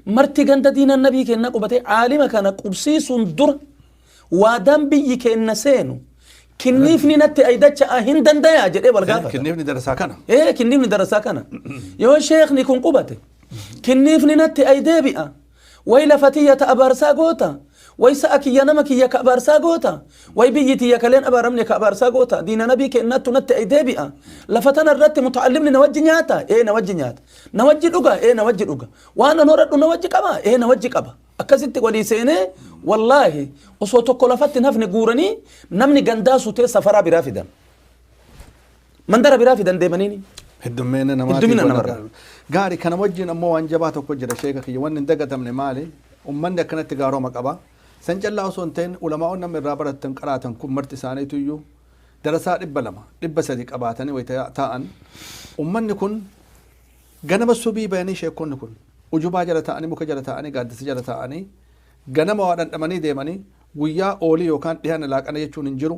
marti ganda diina nabii keenna qubatee aalima kana qubsiisuun dura waadaan biyyi keenna seenu kinniifni natti aydacha'aa hin dandayaa jedhee wal gaafata. Kinniifni darasaa kana. Ee kinniifni darasaa kana. Yoo sheekni kun qubate kinniifni natti ay deebi'a Way lafa tiyya ta abaarsaa goota, way sa'a kiyya nama kiyya ka abaarsaa goota, way biyyi tiyya ka leen abaaramne ka abaarsaa goota, diina nabii keennaattu natti ay deebi'a, lafa tana irratti muta'allimni na wajji nyaata? Ee na wajji nyaata. Na wajji dhuga? Ee na wajji dhuga. Waan an horadhu na wajji qaba? Ee na wajji qaba. Akkasitti walii seenee wallaahi osoo tokko lafatti hin hafne guuranii namni gandaa sutee safaraa biraa fidan. mandara biraa fidan deemaniini. Heddummina namaa Heddummina tiiba namarraa. nagaa. Gaari kana wajjin ammoo waan jabaa tokko jira sheeka kiyya wanni hin dagatamne maali ummanni akkanatti gaaroma qaba san callaa osoo hin ta'in ulamaa'oon namni irraa baratan qaraatan kun marti isaaniitu iyyuu darasaa dhibba lama dhibba sadi qabaatanii wayita taa'an ummanni kun ganama subii bayanii sheekonni kun ujubaa jala taa'anii muka jala taa'anii gaaddisa jala taa'anii ganama waa dhandhamanii deemanii guyyaa oolii yookaan dhiyaana laaqana jechuun hin jiru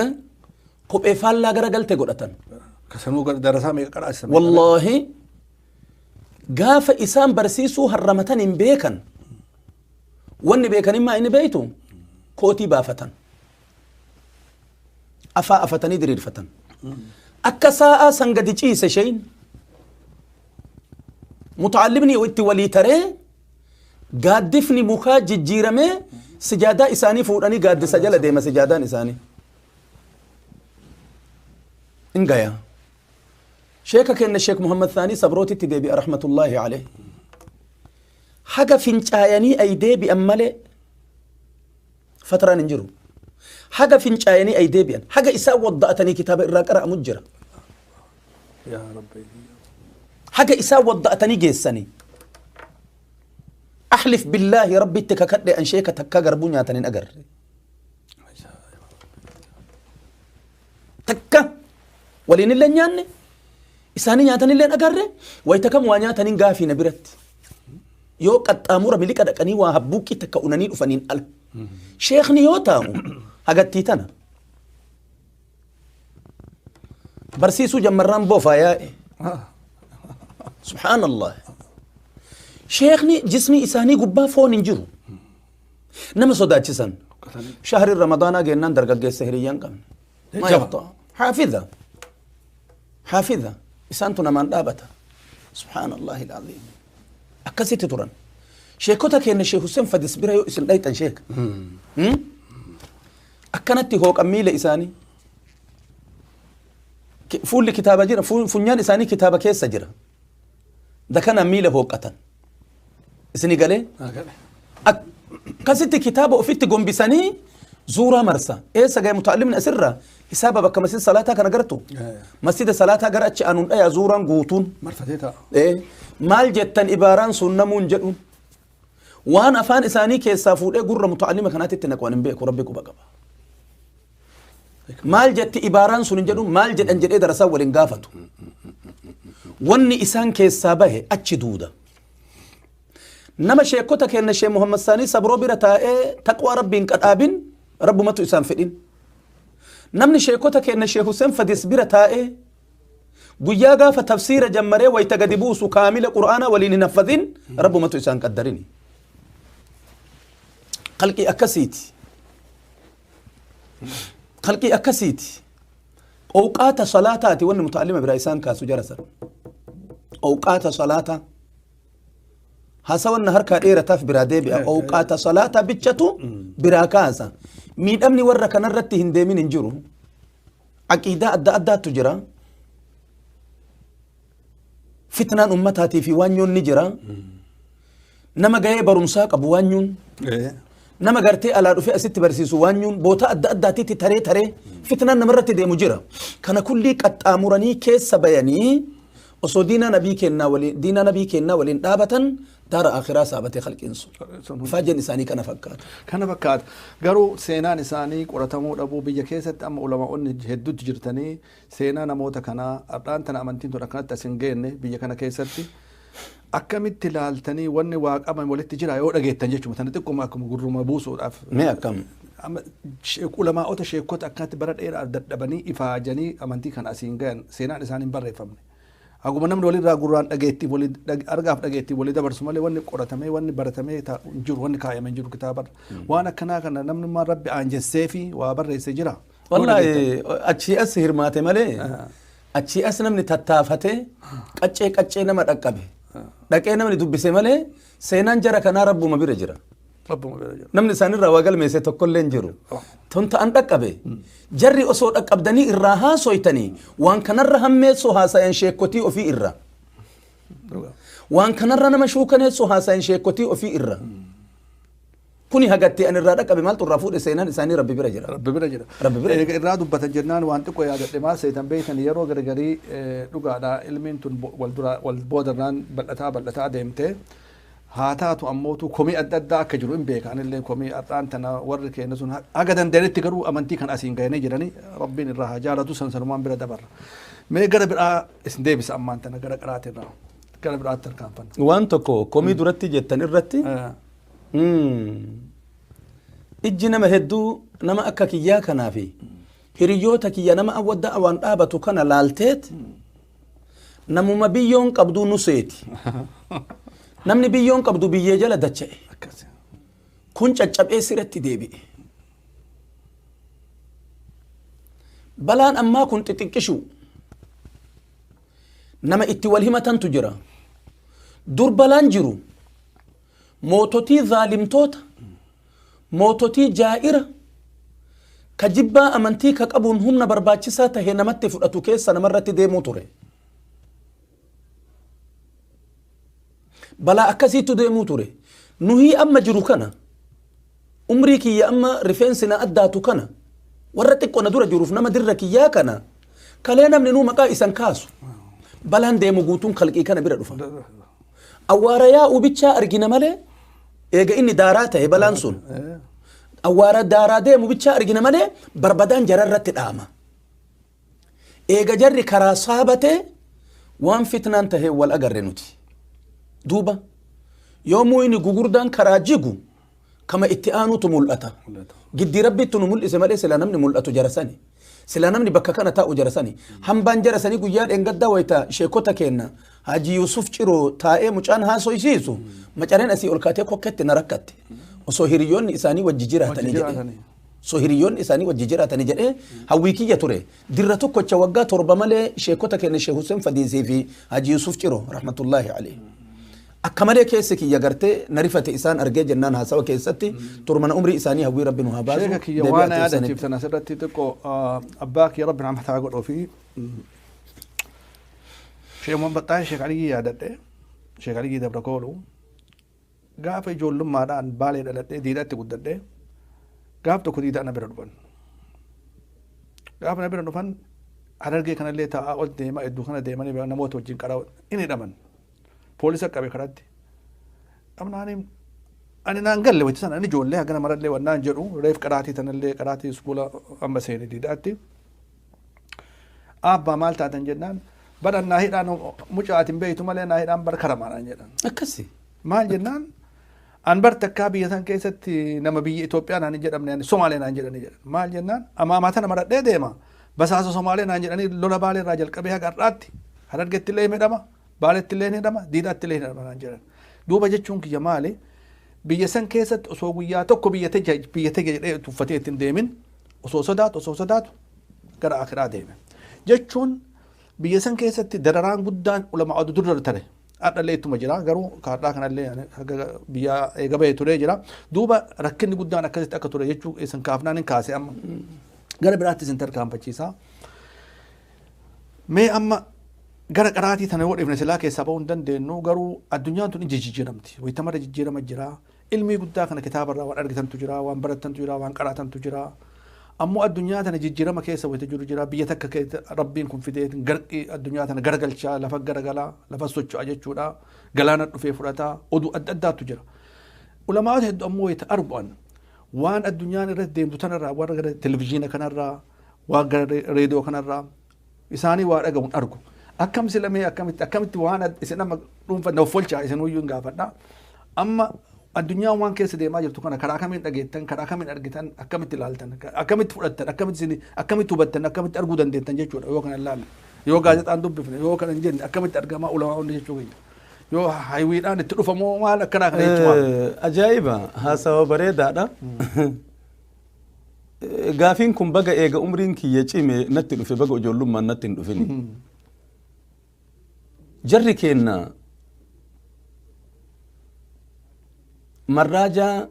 Eh? kophee faallaa gara galte godhatan Kasanuu gara darasaa meeqa qaraasisa. wallaahi gaafa isaan barsiisuu harramatan hin beekan wanni beekanimmaa inni beeytu kootii baafatan afaa afatanii diriirfatan akka saa'aa san gadi ciise sheeyin mutaallimni itti walii taree Gaaddifni mukaa jijjiiramee sijaadaa isaanii fuudhanii gaaddisa jala deema sijaadaan isaanii. In gayaa. Sheeka kenna Sheek Muhammad Thaanii Sabrootitti deebi'a rahmatullaahi alayhi. Haga fincaayanii ay deebi'an malee Fatraan hin jiru. Haga fincaayanii ay deebi'an. Haga isaan wadda'atanii kitaaba irraa qara'amu jira. يا ربي Haga isaan wadda'atanii geessanii. Ahlif billaahi rabbitti kakadhe an sheeka takkaa garbuu nyaatan hin agarre. takka waliinillee nyaanne isaanii nyaatanillee agarre wayita kam waa nyaataniin gaafii na biratti yoo qaxxaamura miliqa dhaqanii waa habbuuqqii takka unanii dhufaniin ala sheekni yoo taa'u hagattii tana barsiisuu jammarraan boofaa yaa'e subhaanallah sheekni jismii isaanii gubbaa foon hin jiru Nama sodaachisan. Shahri Ramadaanaa geennaan dargaggeessa hiriyyaan qabne. Maa Jajjaba. yaqxaa. Haafiza. Haafiza. Isaantu namaan dhaabata. Subhaanallahi al-aziim. Akkasitti turan. Sheekota keenya Sheek Hussein Fadis bira yoo isin dhayxan sheek. Hmm? Akkanatti hooqan miila isaanii. Ki- Fuulli kitaaba jira. fu- Funyaan isaanii kitaaba keessa jira. Inta kanaan miila hooqqatan. Isini galee? Akkasitti kitaaba ofitti gombisanii zuuraa marsa. Eessa ga'e mutaallimni asirraa hisaaba bakka masjida salaataa kana gartu. Masjida salaataa gara achi aanuun dhayaa zuuraan guutuun. marfatee ta'a. Eh, maal jettan ibaaraan sun namuun jedhuun waan afaan isaanii keessaa fuudhee gurra mutaalima kanaatti itti naqan hin beeku rabbi quba qaba. maal jetti ibaaraan sun hin jedhu maal jedhan jedhee darasaa waliin gaafatu wanni isaan keessaa bahe achi duuda nama sheekota kenna shee muhammad saanii sabroo bira taa'ee taqwaa rabbiin qadhaabin rabbumatu isaan fedhin namni sheekota kenna shee huseen fadis bira taa'ee guyyaa gaafa tafsiira jammaree wayta gadi buusu kaamila qur'aana waliin hin haffazin rabbumatu isaan qaddarini qalqii akkasiiti kalqii akkasiiti owqaata salaataati wanni mutaalima biraa isaan kaasu jara san owqaata salaataa hasa wanna harkaa dheerataaf biraa deebi'a owqaata salaataa bichatu biraa kaasa miidhamni warra kanarratti hin deemin hin jiru aqiidaa adda addaattu jira Fitnaan ummataatii fi waanyoon ni jira. Nama gahee barumsaa qabu waanyuun. Nama gartee alaa dhufee asitti barsiisu waanyuun boota adda addaatitti taree taree fitnaan namarratti deemu jira. Kana kullii qaxxaamuranii keessa bayanii osoo diinaa nabii kennaa waliin diinaa nabii kennaa waliin dhaabatan daara akhiraa saabatee halqiin sun. Faajeen isaanii kana fakkaata. Kana fakkaata. Garuu seenaan isaanii qoratamuu dhabuu biyya keessatti amma ulamaa'onni hedduutti jirtanii Seenaa namoota kanaa, ardhaan tana amantiin tun akkanatti as hin geenne, biyya kana keessatti akkamitti ilaaltanii wanni waa qaban walitti jira yoo dhageettan jechuma tana xiqquma akkuma gurruma buusuudhaaf. Mee akkam? Amma sheek- ulamaa'ota sheekota akkanatti bara dheeraa dadhabanii ifaajanii amantii kana asiin gayan seenaan isaan hin barreeffamne. Haguma namni walirraa gurraan dhageettii wali dhag- argaaf dhageettii wali dabarsu malee wanni qoratamee wanni baratamee ta- hin jiru wanni kaayame hin jiru kitaabarra. Waan akkanaa kana namnummaan rabbi aanjessee fi waa barreesse jira. Wallaahi achii as hirmaate malee achii as namni tattaafate qaccee qaccee nama dhaqqabe dhaqee namni dubbise malee seenaan jara kanaa rabbuma bira jira. Rabbuma bira jira. Namni isaanirraa waa galmeesse tokkollee hin jiru. Tun ta'an dhaqqabe. Jarri osoo dhaqqabdanii irraa haasoytanii waan kanarra hammeessoo haasayan sheekkotii ofii irra. Waan kanarra nama shuukaneessoo haasayan sheekkotii ofii irra. Kuni hagatti an irraa dhaqqabe maaltu irraa fuudhe seenaan isaanii rabbi bira jira. Rabbi bira jira. Rabbi bira Eega irraa dubbatan jennaan waan xiqqoo yaadadhe maal seetan beektan yeroo gargarii eh, dhugaadha ilmiin tun bo- wal dura wal boodarraan bal'ataa bal'ataa deemte. Haa taatu ammootu komii adda addaa akka jiru hin beeka anillee komii har'aan tana warri keenya sun ha- haga dandeenyetti garuu amantii kan asiin gahanii jiranii rabbiin irraa haa jaalatu san sanumaan bira dabarra. Mee gara biraa isin deebisa ammaan tana gara qaraatiin irraa gara biraatti tarkaanfanna. Waan tokko komii duratti jettan irratti Eh, Ijji nama hedduu nama akka kiyyaa kanaa fi hiriyoota kiyya nama awwadda awaan dhaabatu kana laalteet namuma biyyoon qabduu nu seeti. Namni biyyoon qabdu biyyee jala dacha'e. Akkasi. Kun caccabee siratti deebi'e. Balaan ammaa kun xixiqqishu. Nama itti wal himatantu jira. Dur balaan jiru moototii zaalimtoota, moototii jaa'ira, ka jibbaa amantii ka qabuun humna barbaachisaa tahe namatti fudhatu keessa namarratti deemuu ture. Balaa akkasiitu deemuu ture. Nuhii amma jiru kana Umrii kiyya amma rifeensi na addaatu kana warra xiqqo na dura jiruuf nama dirra kiyyaa kana kalee namninuu maqaa isan kaasu balaan deemu guutuun kalqii kana bira dhufa. Awwaara yaa'u bichaa argina malee eega inni daaraa ta'e balaan sun awwaara daaraa deemu bichaa argina malee barbadaan jararratti dhaama. Eega jarri karaa saha batee waan fitnaan taheen wal agarre nuti. Duuba yoo mu'ini gugurdaan karaa jigu kama itti aanutu mul'ata. Giddii rabbiittu nu mul'ise malee sila namni mul'atu jara sani. Sila namni bakka kana taa'u jara sani. Hambaan jara sanii guyyaa dheengaddaa wayita sheekota keenna Haji Yuusuf Ciroo taa'ee mucaan haasoysiisu macareen asii ol kaatee kokketti na rakkatte. Osoo hiriyyoonni isaanii wajji jiraatanii jedhee. so hiriyyoonni isaanii wajji jiraatani jedhee hawwii kiyya ture. Dirra tokkocha waggaa torba malee sheekota keenya Sheekh Hussein Fadiisii fi Haji Yusuf Ciro rahmatullaahi alayhi. Akka malee keessi kiyya gartee na rifate isaan argee jennaan haasawa keessatti turmana umrii isaanii hawwii rabbi nu haa baasu. Sheeka kiyya deebi'aa waan turuu isaaniitti. yaadachiiftan asirratti xiqqoo ah, abbaa kiyya rabbi nama taa godhuu fi sheekuma baxxaan sheek aliyyii yaadadhe sheek aliyyii dabra kooluu Gaafa ijoollummaadhaa an Baalee dhaladhee Diidaatti guddadhe. Gaaf tokko Diidaa na bira dhufan. Gaafa na bira dhufan Harargee kanallee taa'aa ol deemaa iddoo kana deemanii bira namoota wajjin qaraa in hidhaman. Poolisa qabe karatti. Dhabnaaniin ani naan galle wayita sana ani ijoollee hagana marallee wannaan jedhu reef qaraatii tanallee qaraatii iskuula amma seene Diidaatti. Aabbaa maal taatan jennaan bara naa hidhaan mucaa ati hin beektu malee naa hidhaan bara karamaadhaan jedhan. Akkasi. Maal jennaan an bar takkaa biyya san keessatti nama biyya Itoophiyaa naan hin jedhamne ani Somaalee naan jedhani jedhan. Maal jennaan amaamaa tana maradhee deema basaasa Somaalee naan jedhanii lola baalee irraa jalqabee haga har'aatti harargetti illee hidhama baaletti illee hidhama diidaatti illee hidhama naan jedhan. Duuba jechuun kiyya maali? Biyya san keessatti osoo guyyaa tokko biyya tege biyya tege jedhee tuffatee ittiin deemin osoo sodaatu osoo sodaatu gara akiraa deeme jechuun biyya san keessatti dararaan guddaan ulama adu durra tare hadhallee ittuma jira garuu kaadhaa kanallee biyya eega bahee turee jira duuba rakkinni guddaan akkasitti akka ture jechuu isin kaafnaan hin kaase amma gara biraatti isin tarkaanfachiisa mee amma gara qaraatii tana yoo dhifne silaa keessaa bahuu hin dandeenyu garuu addunyaan tun ija jijjiiramti wayitamarra jijjiirama jira Ilmii guddaa kana kitaaba irraa waan argitantu jira, waan barattantu jira, waan qaraatantu jira. Ammoo addunyaa tana jijjirama keessa wayita jiru jira. Biyya takka keessa Rabbiin kun fideetin garqi addunyaa tana garagalchaa, lafa garagala, lafa socho'a jechuudha. Galaana dhufee fudhata. Oduu adda addaatu jira. Ulamaa'ota heddu ammoo wayita argu'an waan addunyaan irratti deemtu tanarraa warra gara televizyiina kanarraa, waan gara reediyoo kanarraa, isaanii waa dhagahu hin argu. Akkam sila mee akkamitti akkamitti waan ad- isin amma dhuunfa na offolchaa isin uyyuu hin gaafadha. Amma addunyaan waan keessa deemaa jirtu kana karaa kamiin dhageettan karaa kamiin argitan akkamitti ilaaltan akkamitti fudhattan akkamitti isin akkamitti hubattan akkamitti arguu dandeettan jechuudha yoo kana ilaalle yoo gaazexaan dubbifne yoo kana hin jenne akkamitti argamaa ulamaa'onni jechuu keenya yoo haywiidhaan itti dhufamoo maal akkanaa kana jechuudha. Eh, Ajaa'iba haasawa bareedaadha. Gaafiin kun baga eega umriin kiyya cime natti dhufe baga ijoollummaan natti hin dhufini. Jarri keenna marraajaa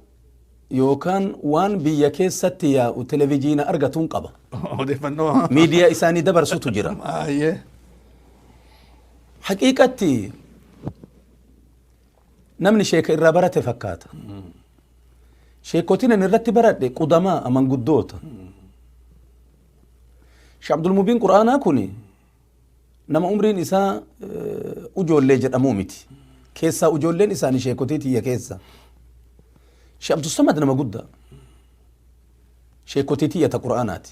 yookaan waan biyya keessatti yaa'u televijiina argatuun qaba. Odeeffannoo. Miidiyaa isaanii dabarsutu jira. Baay'ee. Haqiiqatti Namni sheeka irraa barate fakkaata. Sheekotiin ani irratti baradhe qudamaa amanguddoota. Sheekh Abdul Mubiin Qur'aanaa kun nama umriin isaa eh, ujoollee jedhamuu miti. Keessaa ujoolleen isaanii sheekotii tiyya keessa. Sheekh Abdul Samad nama guddaa. Sheekotii tiyya ta Qur'aanaati.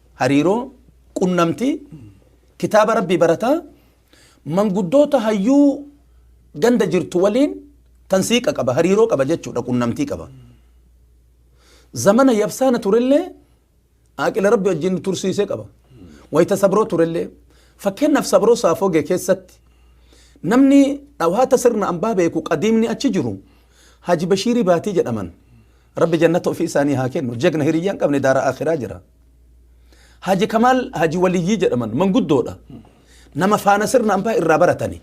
hariiroo, qunnamtii, kitaaba Rabbii barataa, manguddoota hayyuu ganda jirtu waliin tansiiqa qaba, hariiroo qaba jechuudha, qunnamtii qaba. Zamana yabsaana turellee aaqila Rabbi wajjin nu tursiisee qaba. Wayita sabroo turellee fakkeenyaaf sabroo saafogee keessatti namni dhawaata sirna ambaa beeku qadiimni achi jiru Haji Bashiirii Baatii jedhaman. Rabbi jannata ofii isaanii haa kennu. Jagna hiriyyaa hin qabne daara akhiraa jira. Haji Kamaal Haji Waliyyii jedhaman manguddoodha. Nama faana sirna ambaa irraa baratani.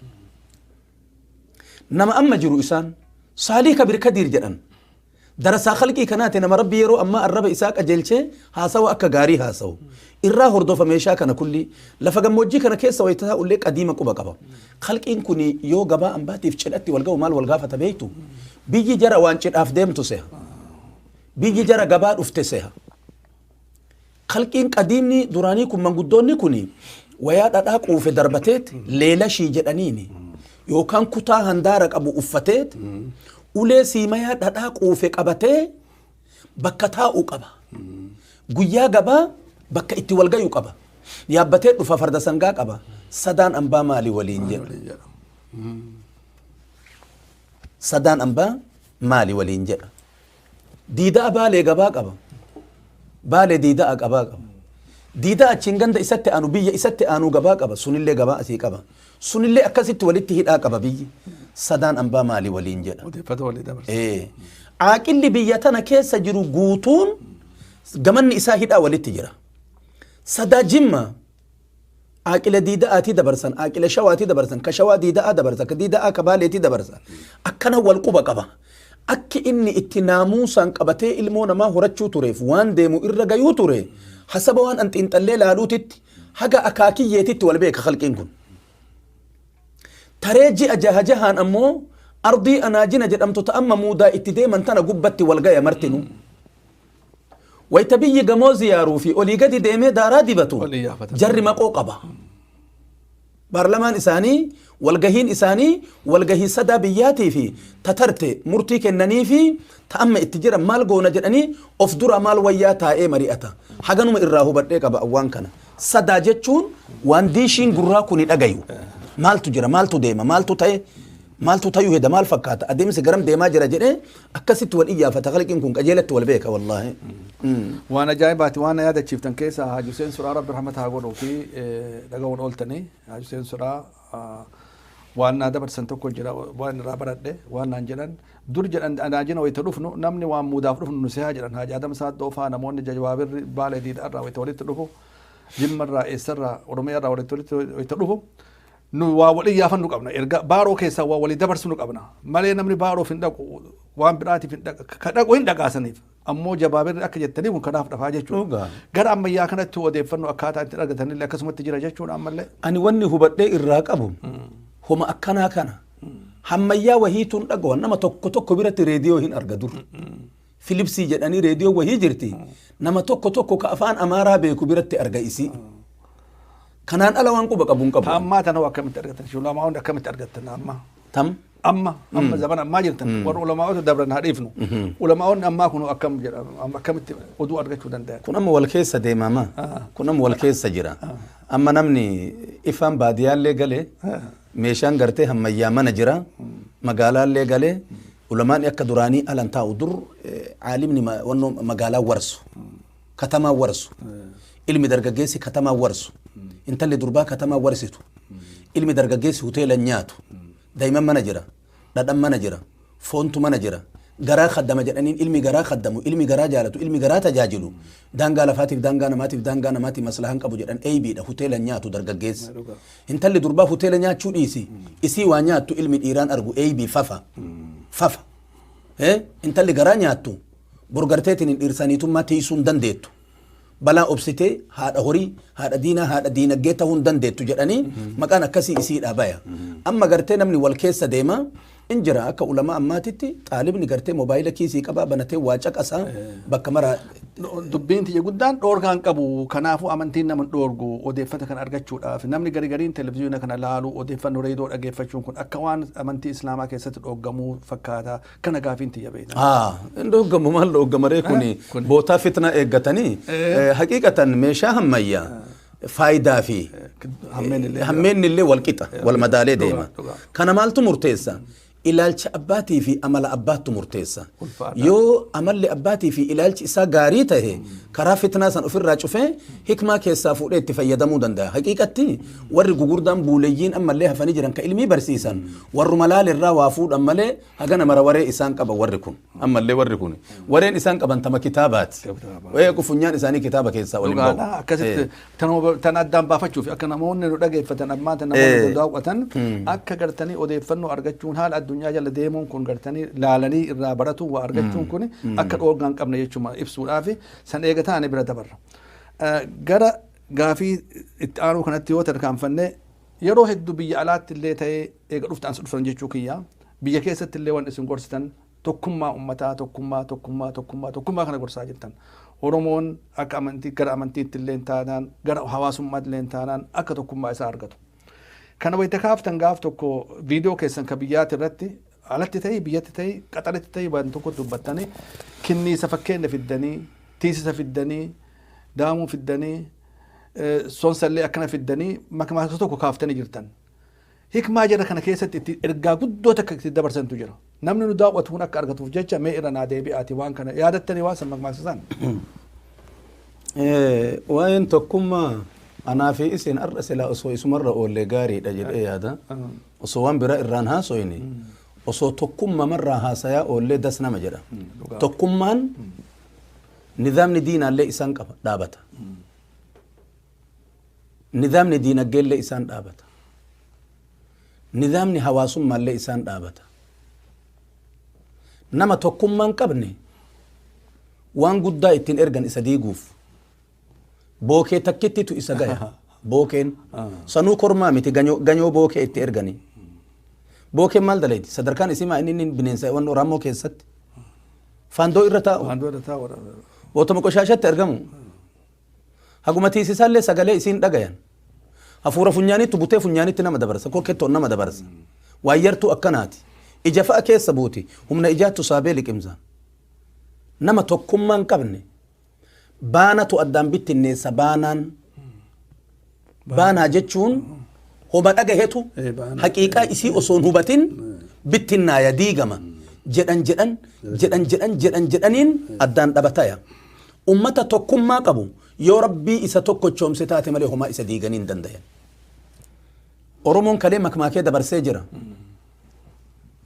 Nama amma jiru isaan Saalii Kabir Kadiir jedhan. Darasaa khalqii kanaati nama rabbi yeroo ammaa arraba isaa qajeelchee haasawa akka gaarii haasawu. Irraa hordofa meeshaa kana kulli lafa gammoojjii kana keessa wayita isaa ullee qadiima quba qaba. Khalqiin kun yoo gabaa ambaatiif cidhatti wal ga'u maal wal gaafata beektu? Biyyi jara waan cidhaaf deemtu seha. Biyyi jara gabaa dhufte seha. Khalqiin qadiimni duraanii kun manguddoonni kun wayaa dhadhaa quufe darbateet leelashii jedhaniini yookaan kutaa handaara qabu uffateet ulee siimayaa dhadhaa quufe qabatee bakka taa'u qaba. Guyyaa gabaa bakka itti wal gayu qaba. Yaabbatee dhufa farda sangaa qaba. Sadaan ambaa maali waliin jedha. Waliin jedha. Sadaan ambaa maali waliin jedha. Diida'a baalee gabaa qaba. Baalee diida'a qabaa qaba. Diidaa achiin ganda isatti aanu biyya isatti aanu gabaa qaba. Sunillee gabaa asii qaba. Sunillee akkasitti walitti hidhaa qaba biyyi. Sadaan ambaa maali waliin jedha. Odeeffata walii dabarsa. Ee, Aaqilli biyya tana keessa jiru guutuun gamanni isaa hidhaa walitti jira. Sadaa jimma aaqila diida'aatii dabarsan, aaqila shawaatii dabarsan, ka shawaa diida'aa dabarsa, ka diida'aa ka baaleetii dabarsa. Akkana wal quba qaba. Akki inni itti naamuusaan qabatee ilmoo namaa horachuu tureef waan deemu irra gayuu ture hasaba waan an xiinxallee laaluutitti Haga akaakiyyeetitti wal beeka khalqiin kun. Taree ji'a jaha jahaan ammoo ardii anaajina jedhamtu ta amma muudaa itti deeman tana gubbatti wal gaya martinuu. Wayta biyyi gamoo ziyaaruu fi olii gadi deemee daaraa dibatu Wal iyyaafatan. jarri maqoo qaba. Paarlamaan isaanii walgahiin isaanii walgahii sadaa biyyaatii fi ta tarte murtii kennanii fi ta amma itti jiran maal goona jedhanii of duraa maal wayyaa taa'ee mari'ata. Haganuma irraa hubadhee qaba an waan kana. Sadaa jechuun waan diishiin gurraa kuni dhagayu. Maaltu jira, maaltu deema, maaltu ta'e, maaltu tayuu heda, maal fakkaata, adeemsi garam deemaa jira jedhee Akkasitti wal iyyaafata khalqiin kun qajeelatti wal beeka wallaahi. Waan ajaa'ibaati waan na yaadachiiftan keessaa Haaj Huseen Suraa Rabbi rahmata haa godhuu fi dhaga'uun ooltanii Haaj Huseen Suraa waan naa dabarsan tokko jira waan irraa baradhe waan naan jedhan dur jedhan anaajina wayita dhufnu namni waan muudaaf dhufnu nu sehaa jedhan Haaj Adam Saaddoo faa namoonni jawaabirri baala diidhaa irraa wayita walitti dhufu jimma irraa eessa irraa oromiyaa irraa walitti walitti wayita dhufu nu waa wal iyyaafannu qabna erga baaroo keessaa waa walii dabarsinu qabna malee namni baaroof hin dhaqu waan biraatiif hin dhaqa ka dhaqu hin dhaqaasaniif ammoo jabaabirri akka jettanii kun kanaaf dhafaa jechuudha Dhugaa. gara ammayyaa kanatti odeeffannoo akkaataa itti argatanillee akkasumatti jira jechuudha ammallee ani wanni hubadhee irraa qabu homa akkanaa kana hammayyaa wahiituun dhagawan nama tokko tokko biratti reediyoo hin arga dur Filipsii jedhanii reediyoo wahii jirti. Nama tokko tokko ka afaan Amaaraa beeku biratti arga isii. Kanaan ala waan quba qabu hin qabu. Ammaa tanoo akkamitti argattan? Shulamaa hundi akkamitti argattan ammaa? Tam. Amma amma zaman ammaa jirtan warra ulamaa'ota dabran haa dhiifnu. Ulamaa'onni ammaa kun akkam jedha amma akkamitti oduu argachuu danda'an? Kun amma wal keessa deemama. Kun amma wal keessa jira. Amma namni ifaan baadiyyaallee galee meeshaan gartee hammayyaa mana jira. Magaalaallee galee Ulamaani akka duraanii alan taa'u dur caalimni wannoo magaalaa warsu katamaa warsu ilmi dargaggeessi katamaa warsu intalli durbaa katamaa warsitu ilmi dargaggeessi hoteela nyaatu daa'imman mana jira dhadhan mana jira foontu mana jira garaa kaddama jedhaniin ilmi garaa kaddamu ilmi garaa jaalatu ilmi garaa tajaajilu daangaa lafaatiif daangaa namaatiif daangaa namaatiif maslahan qabu jedhan eeybiidha hoteela nyaatu dargaggeessi Intalli durbaa hoteela nyaachuu dhiisi. Isii waa nyaattu ilmi dhiiraan argu eeybii fafa. Fafa. Eh, Intalli garaa nyaattu borgarteetiin hin dhiirsaniitummaa teessuu hin dandeettu. Balaa obsitee haadha horii, haadha diinaa, haadha diinaggee ta'uu hin dandeettu jedhanii maqaan akkasii isiidhaa baya. Amma gartee namni wal keessa deema in jira akka ulamaa ammaatitti xaalibni gartee mobaayila kiisii qabaa banatee waa caqasaa bakka maraa Dubbiin tiyya guddaan dhoorgaa hin qabu. Kanaafuu amantiin nama hin dhoorgu odeeffata kana argachuudhaaf. Namni gari gariin televizyiina kana laalu odeeffannoo reedoo dhageeffachuun kun akka waan amantii Islaamaa keessatti dhooggamuu fakkaata. Kana gaafiin tiyya beekna. Haa, hin dhooggamu maal dhooggamaree kuni Kun- bootaa fitnaa eeggatanii Eh. eh, haqiiqatan meeshaa hammayyaa faayidaa fi Hammeenni illee hammeenni illee wal qixa wal madaalee Dhugaa, deema. dhugaa. Kana maaltu murteessa? Ilaalcha abbaatii fi amala abbaattu murteessa. Ulfaata. Yoo amalli abbaatii fi ilaalchi isaa gaarii ta'e karaa fitnaa san ofirraa cufee hikmaa keessaa fuudhee itti fayyadamuu danda'a. Haqiiqatti warri gugurdaan buuleyyiin ammallee hafanii jiran ka ilmii barsiisan warruma laalirraa waa fuudhan malee hagana mara waree isaan qaba warri kun. ammallee warri kun wareen isaan qaban tama kitaabaati Kitaaba. Ee, kun funyaan isaanii kitaaba keessaa waliin dhugaadha ba'u. akkasitti Ee. tan huba- tan addaan baafachuuf akka namoonni nu dhageeffatan ammaa tan namoonni Ee. nu daawwatan akka gartanii odeeffannoo argachuun haala addunyaa jala deemuun kun gartanii laalanii irraa baratuun waa argachuun kun akka dhoorgaa hin qabne jechuun ibsuudhaaf san eega taane bira dabarra. Eh, Gara gaafii itti aanuu kanatti yoo tarkaanfanne Yeroo heddu biyya alaatti illee ta'ee eega dhufte ansi dhuftan jechuu kiyya biyya keessatti illee wanni isin gorsitan tokkummaa ummataa tokkummaa tokkummaa tokkummaa tokkummaa kana gorsaa jirtan Oromoon akka amantii gara amantiitti illee taanaan gara hawaasummaatti illee taanaan akka tokkummaa isaa argatu. Kana wayita kaaftan gaaf tokko viidiyoo keessan ka biyyaati irratti Alatti ta'ii biyyatti ta'ii qaxaritti ta'ii waan tokkotti dubbattanii kinniisa fakkeenya fiddanii tiisisa fiddanii daamuu fiddanii sonsallee akkana fiddanii makmaasa tokko kaaftanii jirtan. Hikmaa jara kana keessatti itti ergaa guddoo takka itti dabarsantu jira. Namni nu daawwatu kun akka argatuuf jecha mee irra naa deebi'aati waan kana yaadattanii waan san makmaasa san. Waa'een tokkummaa anaa fi isin har'a silaa osoo isumarra oollee gaariidha jedhee yaada. Osoo waan biraa irraan haasoyne osoo tokkummama irraa haasayaa oollee das nama jedha. dhugaa. Tokkummaan nizaamni diinaallee isaan qaba dhaabata. Nizaamni diinagdeellee isaan dhaabata. Nizaamni hawaasummaallee isaan dhaabata. Nama tokkummaan qabne waan guddaa ittiin ergan isa diiguuf. Bookee takkittitu isa gaya. Bookeen. Sanuu kormaa miti ganyoo, ganyoo bookee itti erganii. Bookeen maal dalayti? Sadarkaan isii maa inni inni bineensa waan Oromoo keessatti. Faandoo irra taa'u. Waan dura taa warra. Otuma qoshaashatti argamu. Haguma tiisisaallee sagalee isiin dhagayan. Hafuura funyaanitti butee funyaanitti nama dabarsa. Kokkettoon nama dabarsa. Waayyartuu akkanaati. Ija fa'a keessa buuti. Humna ijaattu saabee liqimsaan. Nama tokkummaa hin qabne. Baanatu addaan bittinneessa baanaan. Baanaa jechuun homa dhagahetu Eh, baanaa. haqiiqaa isii osoo hin hubatin bittinnaaya diigama jedhan jedhan jedhan jedhan jedhan jedhaniin addaan dhabataya. Ummata tokkummaa qabu yoo rabbii isa tokkochoomse taate malee homaa isa diiganii hin dandayan. Oromoon kalee makmaakee dabarsee jira.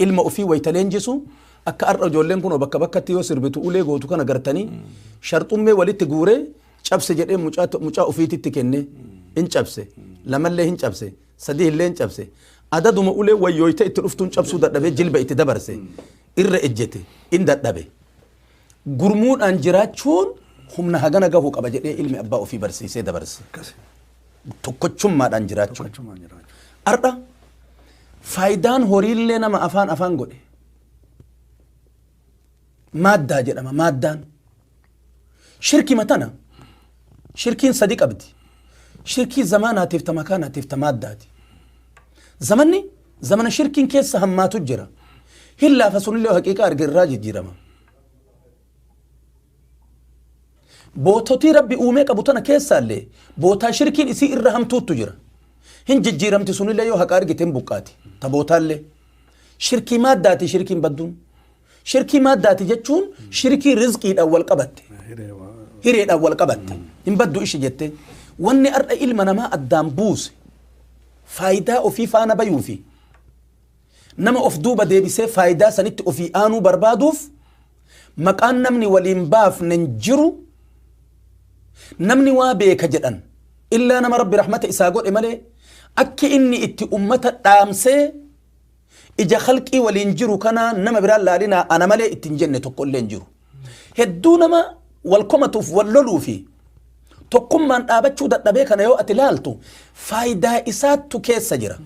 Ilma ofii wayita leenjisu akka har'a ijoolleen kunoo bakka bakkatti yoo sirbitu ulee gootu kana gartanii sharxummee walitti guuree cabse jedhee mucaa to- mucaa ofiititti kenne hin cabse lamallee hin cabse sadii illee hin cabse adaduma ulee wayyooyte itti dhuftuun cabsuu dadhabee jilba itti dabarse irra ejjete in dadhabe gurmuudhaan jiraachuun humna hagana gahuu qaba jedhee ilmi abbaa ofii barsiisee dabarse. Akkasi. tokkochummaadhaan jiraachuu. Tokkochumaan jiraachuu. Har'a faayidaan horiillee nama afaan afaan godhe maaddaa jedhama maaddaan. Shirki matana shirkiin sadi qabdi. Shirkii zamaanaatiif ta makaanaatiif ta maaddaati. Zamanni zamana shirkiin keessa hammaatu jira. Hin laafa sunillee haqiiqaa arge irraa jijjiirama. Boototii Rabbi uumee qabu tana keessaallee bootaa shirkiin isii irra hamtuuttu jira. Hin jijjiiramti sunillee yoo haqa argite hin buqqaati. Ta bootaallee. Shirkii maaddaati shirkiin badduun. Shirkii maaddaati jechuun shirkii rizqiidhaan wal qabatte. Hireedhaan wal qabatte. Hin baddu ishi jettee. Wanni har'a ilma namaa addaan buuse faayidaa ofii faana bayuu fi Nama of duuba deebisee faayidaa sanitti ofii aanuu barbaaduuf maqaan namni waliin baafnen jiru namni waa beeka jedhan illaa nama rabbi rahmata isaa godhe malee akki inni itti ummata dhaamsee ija khalqii waliin jiru kanaa nama biraan laalinaa ana malee ittiin jenne tokko illee hin jiru. Hedduu nama wal komatuuf wal loluu fi tokkummaan dhaabachuu dadhabee kana yoo ati laaltu faayidaa isaattu keessa jira.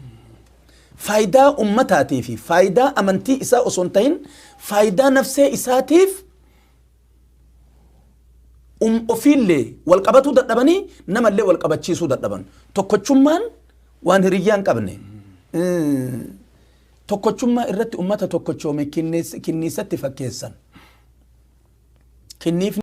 faayidaa ummataatii fi faayidaa amantii isaa osoo hin ta'in faayidaa nafsee isaatiif um ofiillee wal qabatuu dadhabanii namallee wal qabachiisuu dadhaban. Tokkochummaan waan hiriyyaa hin qabne. Mm. Tokkochummaa irratti ummata tokkochoome kinniis- kinniisatti fakkeessan. Kinniifni